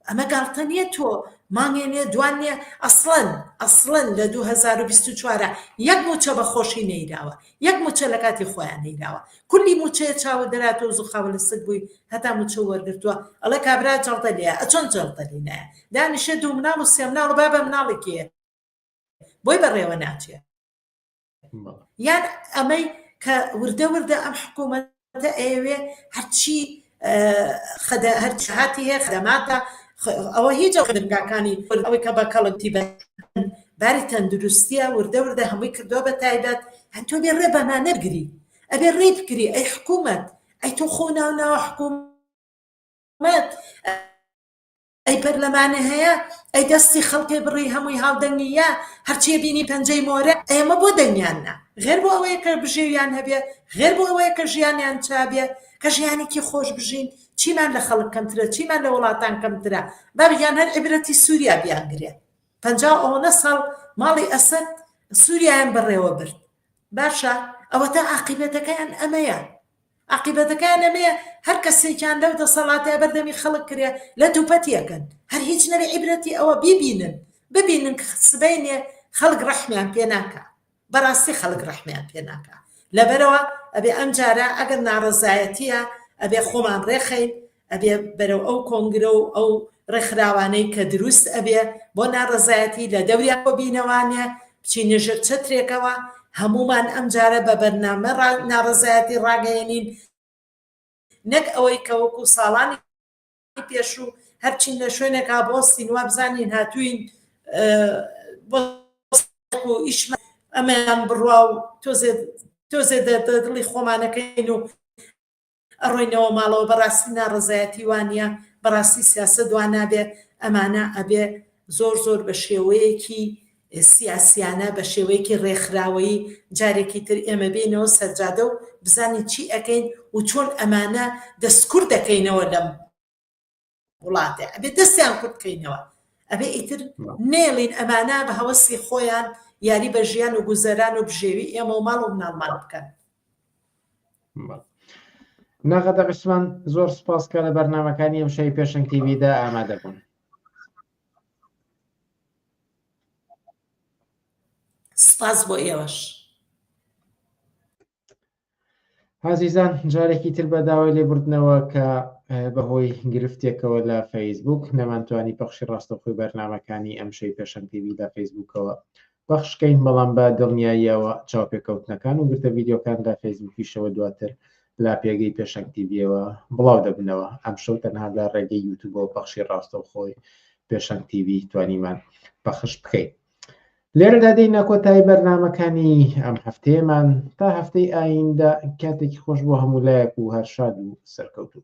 ئەمە گاڵتە نییە تۆ مانگێ نێ دوان نێ ئەسڵەن ئەسڵەن لە 2024 یەک موچە بە خۆشی نەیراوە یەک موچە لەکاتی خۆیان نەیداوە کولی موچەیە چاوە دەراتۆز و خاوە لە سک بووی هەتا موچە وەرگتووە ئەڵێ کابرا جەڵتە لێ ئەچۆن جەڵتە لینایە دانیشێ دوو مناڵ و سێ مناڵ و بابە مناڵێکی بۆی بەڕێوە ناچێ یان ئەمەی کە وردە وردە ئەم حکوومەت ئەوەتە ئەیەوێ هەرچی خەدە هەر جهاتی هەیە خەدەماتە ئەوە هیچ خدمگاکانی ئەوەی کە بە کەڵکتی بە باری تەندروستیە وردە وردە هەمووی کردووە بە تایبەت هەن تۆ بێ ڕێ بەما نەرگری ئەبێ ڕێ بکری ئەی حکوومەت ئەی تۆ خۆ ناو ناوە حکوومەت ئەی پەرلەمانێ هەیە ئەی دەستی خەڵکێ بڕی هەمووی هاودەنگی یا هەرچیە بینی پەنجەی مۆرە ئێمە بۆ دەنگیان نا غێر بۆ ئەوەیە کە بژێویان هەبێ غێر بۆ ئەوەیە کە ژیانیان چابێ کە ژیانێکی خۆش بژین چیمان لە خەڵک کەمترە چیمان لە وڵاتان کەمترە بابیان هەر عبرەتی سووریا بیانگرێ پ ئەوەنە ساڵ ماڵی ئەسد سووریایان بەڕێوە برد باشە ئەوەتا عقیبەتەکەیان ئەمەیە ئاقیبەتەکەیان ئەمەیە هەر کەسێکیان لەو دەسەڵاتەیا بەر دەمی خەڵک کرێ لەت و پەتی ئەکەن هەر هیچ نەبێ عیبرەتی ئەوە بیبینن ببینن ک سبەینێ خەڵک ڕەحمیان پێ ناکا بەڕاستی خەڵک ڕەحمیان پێ ناکا لەبەرەوە ئەبێ ئەمجارە ئەگەر ناڕەزایەتیە ئەبێ خۆمان ڕێخەین ئەبێ بەرەو ئەو کۆنگرە و ئەو ڕێکخراوانەی کە دروست ئەبێ بۆ ناڕەزایەتی لە دەوریان بۆ بینەوانێ بچینە ژێر چەترێکەوە هەمومان ئەمجارە بە بەرنامە ناڕەزایەتی ڕاگەیەنین نەک ئەوەی کە وەکو ساڵانی پێشوو هەرچین لە شوێنێکا بۆ سینوا بزانین هاتوین بۆ ئیشمە ئەمەیان بڕوا و تۆزێ تۆزێ دەڵی خۆمانەکەین و ئەڕۆینەوە ماڵەوە بەڕاستی ناڕەزایەتی وانیە بەڕاستی سیاسەت وانابێ ئەمانە ئەبێ زۆر زۆر بەشێوەیەکی سیاسیانە بەشێوەیەکی ڕێکخراوەیی جارێکی تر ئێمە بینەوە سەرجادە و بزانین چی ئەکەین و چۆن ئەمانە دەستکرد دەکەینەوە لەم وڵاتێ ئەبێ دەستیان کورت کەینەوە ئەبێ ئیتر نێڵین ئەمانە بە هەوەسی خۆیان یاری بە ژیان و گوزەران و بژێوی ئێمە و ماڵ و مناڵمان بکەن نەغەدە عوسمان زۆر سپاس کە لە بەرنمەکانی ئەم شای پێشنگ تیویدا ئامادە بوون سپاس بۆ ئێوەش ئازیزان جارێکی تر بە داوای لێبوردنەوە کە بەهۆی گرفتێکەوە لە فەیسبوک نەمانتوانی پەخشی ڕاستەخۆی بەرنمەکانی ئەم شەی پێشەم پێوی لە فەیسبوکەوە بەخشکەین بەڵام بە دڵنیاییەوە چاوپێکەوتنەکان و گرتە ویددیوکان لە فەیسبوکیشەوە دواتر لا پێگەی پێشەنگتیبیەوە بڵاو دەبنەوە ئەم شەو تەنها لە ڕێگەی یوتوبەوە پەخشی ڕاستەوخۆی پێشەنگتیبی توانیمان پەخش بکەین لێرەدا دێینە کۆتایی بەرنمەکانی ئەم هەفتەیەمان تا هەفتەی ئایندە کاتێکی خۆش بۆ هەموو لایەک و هەر شاد و سەرکەوتوو